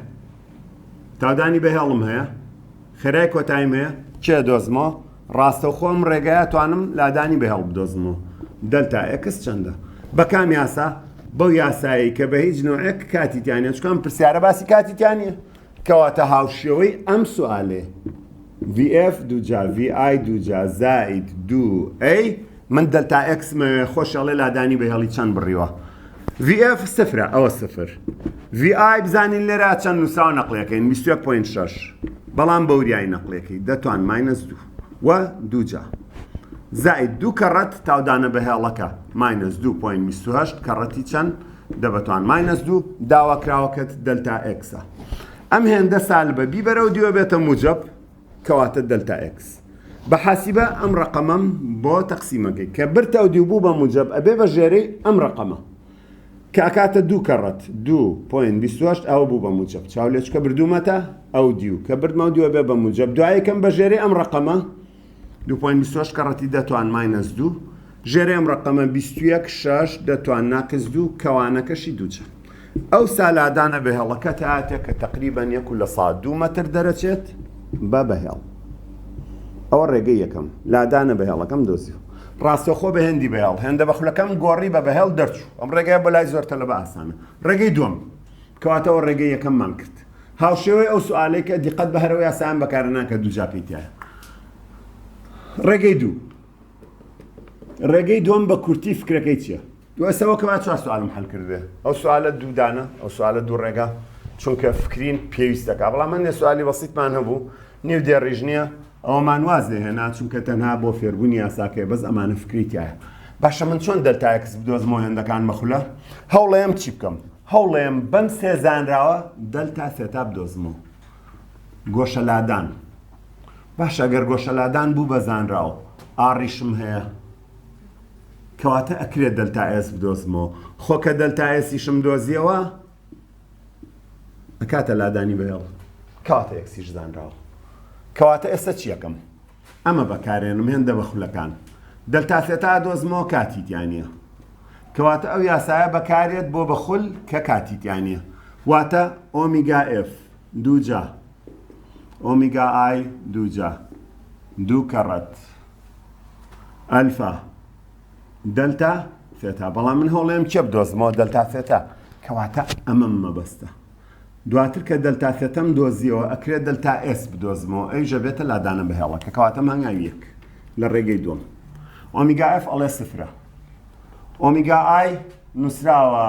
تاودانی بەهێڵم هەیە. خێرای کۆتاییم هەیە. کێ دۆزمەوە؟ ڕاستەوخۆ ئەم ڕێگایە ئەتوانم لادانی بە هەڵبدۆزمەوە دەلتا ئێکس چەندە؟ بە کام یاسا؟ بەو یاسایەی کە بە هیچ نۆعێک کاتی تیا نیە چکام پرسیارە باسی کاتی تیا نیە کەواتە هاوشێوەی ئەم سوالێ VF دوجا VI دوجا زائید دوو ئەی من دەلتا ئێکس مە خۆش ئەڵێ لادانی بە هێڵی چەند بڕیوە VF سفرە ئەوە سفر VI بزانین لێرە چەند نووساو نەقلەکەین 21.6 بەڵام بەوریای نەقلێکی دەتوان ماینەس دوو وە دووجا زائید دوو کەڕەت تاودانە بە هێڵەکە ماینەس 2.28 کەڕەتی چەند دەبتوان ماینەس دوو داواکراوەکەت دەلتا ئەکسە ئەم هێندە سال بە بیبەرە و دیوە بێتە موجب کەواتە دەلتا ئێکس بە حاسیبە ئەم ڕەقەمەم بۆ تەقسیمەکەی کە برتە و دیو بوو بە موجەب ئەبێ بە ژێرەی ئەم ڕەقەمە کە ئەکاتە دوو کەڕەت دوو پۆین بیست و هەشت ئەوە بوو بە موجەب چاولێچکە بردوومەتە ئەو دیو کە بردمە و دوێ بێ بە موجەب دوایەکەم بە ژێرەی ئەم ڕەقەمە دوو پۆین بیست و هەشت کەڕەتی دە توان ماینەس دوو ژێر ئەم ڕەقەمە بیست و یەک شەش دەتوان ناقس دوو کەوانەکەشی دوو چەند؟ ئەو سا لادانە بەهێڵەکە تاتێ کە تەقریبەن یەک و لە سەد دوو مەتر دەرەچێت بە بەهێڵ. ئەوە ڕێگەی یەکەم لادانە بەهێڵەکەم دۆزیوە. ڕاستەوخۆ بە هێندی بەهێڵ هێندە بە خولەکەم گۆڕی بە بەهێڵ دەرچوو. ئەم ڕێگەیە بۆ لای زۆر تەلەبە ئاسانە. ڕێگەی دووەم کەواتە ئەوە ڕێگەی یەکەممان کرد. هاوشێوەی ئەو سوئالەی کە دیقەت بە هەرەو یاسایان بەکارنان کە دووجا پێی تایە. ڕێگەی دوو. ڕێگەی دووەم بە کورتی فکرەکەی چییە؟ ئێستا وەکە با چوار سوالم حەل کردبێ ئەو سوالە دوو دانە ئەو سوالە دوو ڕێگا چونکە فکرین پێویستەکە بەڵام من نێ سوالی بەسیتمان هەبوو نیو دێڕیژ نییە ئەوەمان واز لێ هێنا چونکە تەنها بۆ فێربوونی یاساکەی بەس ئەمانە فکری تایە باشە من چۆن دەلتایەکس بدۆزمەوە هێندەکان مەخولە هەوڵەیەم چی بکەم هەوڵەیەم بەم سێ زانراوە دەلتا سێتا بدۆزمەوە گۆشە لادان باشە گەر گۆشەلادان بوو بە زانرا و ئاڕیشم هەیە کەواتە ئەکرێ دەلتا ئێس بدۆزمەوە خۆ کە دەلتا ئێسیشم دۆزیەوە ئەکاتە لادانی بەهێڵ کەواتە ئێکسیش زانراوە کەواتە ئێستا چیەکەم ئەمە بەکارێنم هێندە بە خولەکان دەلتا سێتا دۆزمەوە کاتی تیانە کەواتە ئەو یاسایە بەکارێت بۆ بەخول کە کاتی تیانە واتە ئۆمیگا ئف دووجا ئۆمیگا ئای دووجا دوو کەڕەت ئەلفا دەلتا ثێتا بەڵام من هەوڵێم چێ بدۆزمەوە دەلتا ثێتا کەواتە ئەمەم مەبەستە دواتر کە دەلتا ثێتەم دۆزیەوە ئەکرێت دەلتا ئێس بدۆزمەوە ئەی ژەبێتە لادانە بەهێڵەکە کەواتە مانگاوی یەک لە ڕێگەی دوم ئۆمیگا ئەف ئەڵێ سفرە ئۆمیگا ئای نووسراوە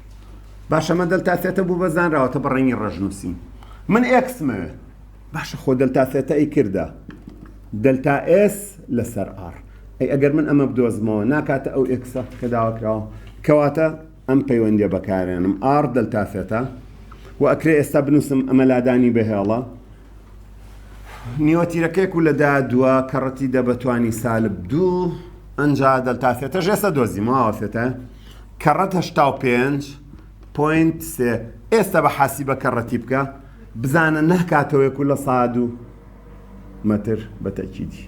باشە مە دەلتا سێتە بوو بە زانراوەتە بە ڕەنگی ڕەش نووسین من ئێکس مەوێ باشە خۆ دەلتا سێتە ئەی کردە دەلتا ئێس لەسەر ئار ئەی ئەگەر من ئەمە بدۆزمەوە ناکاتە ئەو ئێکسە کە داواکراوە کەواتە ئەم پەیوەندی بەکارێنم ئار دەلتا سێتە و ئەکرێ ئێستا بنووسم ئەمە لادانی بەهێڵە نیوەتیرەکەێک و لەدا دووە کەڕەتی دەبەتوانی سالب دوو ئەنج دەلتا سێتە ژێسە دۆزیمەوە سێتە کەڕەت هەشتا و پێنج پۆینت سێ ئێستا بە حاسیبە کەڕەتی بکە بزانە ناکاتەوەیەک و لە ساد و مەتر بە تەکیدی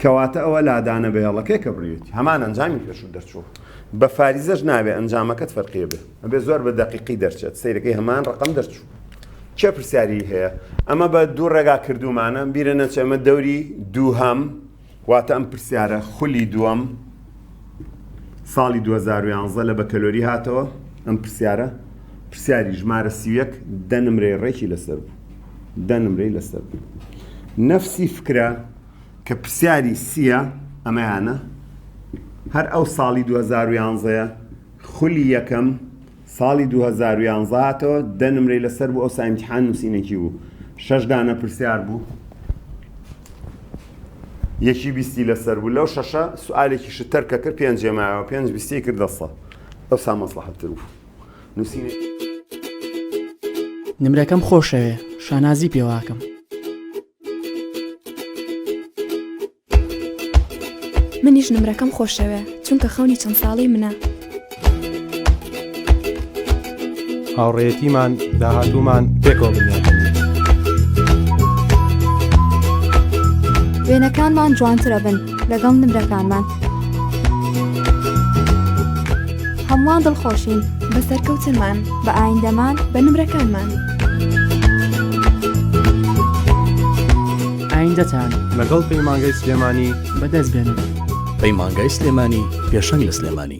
کەواتە ئەوە لادانە بەهێڵەکەی کە بڕێت هەمان ئەنجامی پێشوو دەرچوو بە فاریزەش ناوێ ئەنجامەکەت فەرقیە بێ ئەبێ زۆر بە دەقیقی دەرچێت سیرەکەی هەمان ڕقم دەرچوو چێ پرسیاری هەیە ئەمە بە دوو ڕێگا کردومانە بیرە نەچێمە دەوری دووهام واتە ئەم پرسیارە خولی دووەم ساڵی دوو هەزار و یانزە لە بەکەلۆری هاتەوە، ئەم پرسیارە پرسیاری ژمارە سی و یەک دە نمرەی ڕێکی لەسەر بوو، دە نمرەی لەسەر بوو. نەفسی فکرە کە پرسیاری سییە ئەمەیانە، هەر ئەو ساڵی دوو هەزار و یانزەیە خولی یەکەم، ساڵی دوو هەزار و یازدە هاتەوە دە نمرەی لەسەر بوو ئەوسا ئیمتیحان نووسینێکی بوو شەش دانە پرسیار بوو یەکی بیستی لەسەر بوو لەو شەشە سوالێکی شتەر کە کرد پێنج جێماوە پێنج بیستی کرد دەسە ئەوسا مەسلحەتتر بوو نووسین نمرەکەم خۆشەوێ شانازی پێواکەم. منیش نمرەکەم خۆشەوێ چونکە خەونی چەند ساڵی منە. هاوڕێتیمان داهاتوومان پێکەوە بنیاد وێنەکانمان جوانترە بن لەگەڵ نمرەکانمان هەمووان دڵخۆشین بە سەرکەوتنمان بە ئایندەمان بە نمرەکانمان. ئایندەتان لەگەڵ پەیمانگەی سلێمانی بەدەست بێنن. پەیمانگای سلێمانی پێشەنگ لە سلێمانی.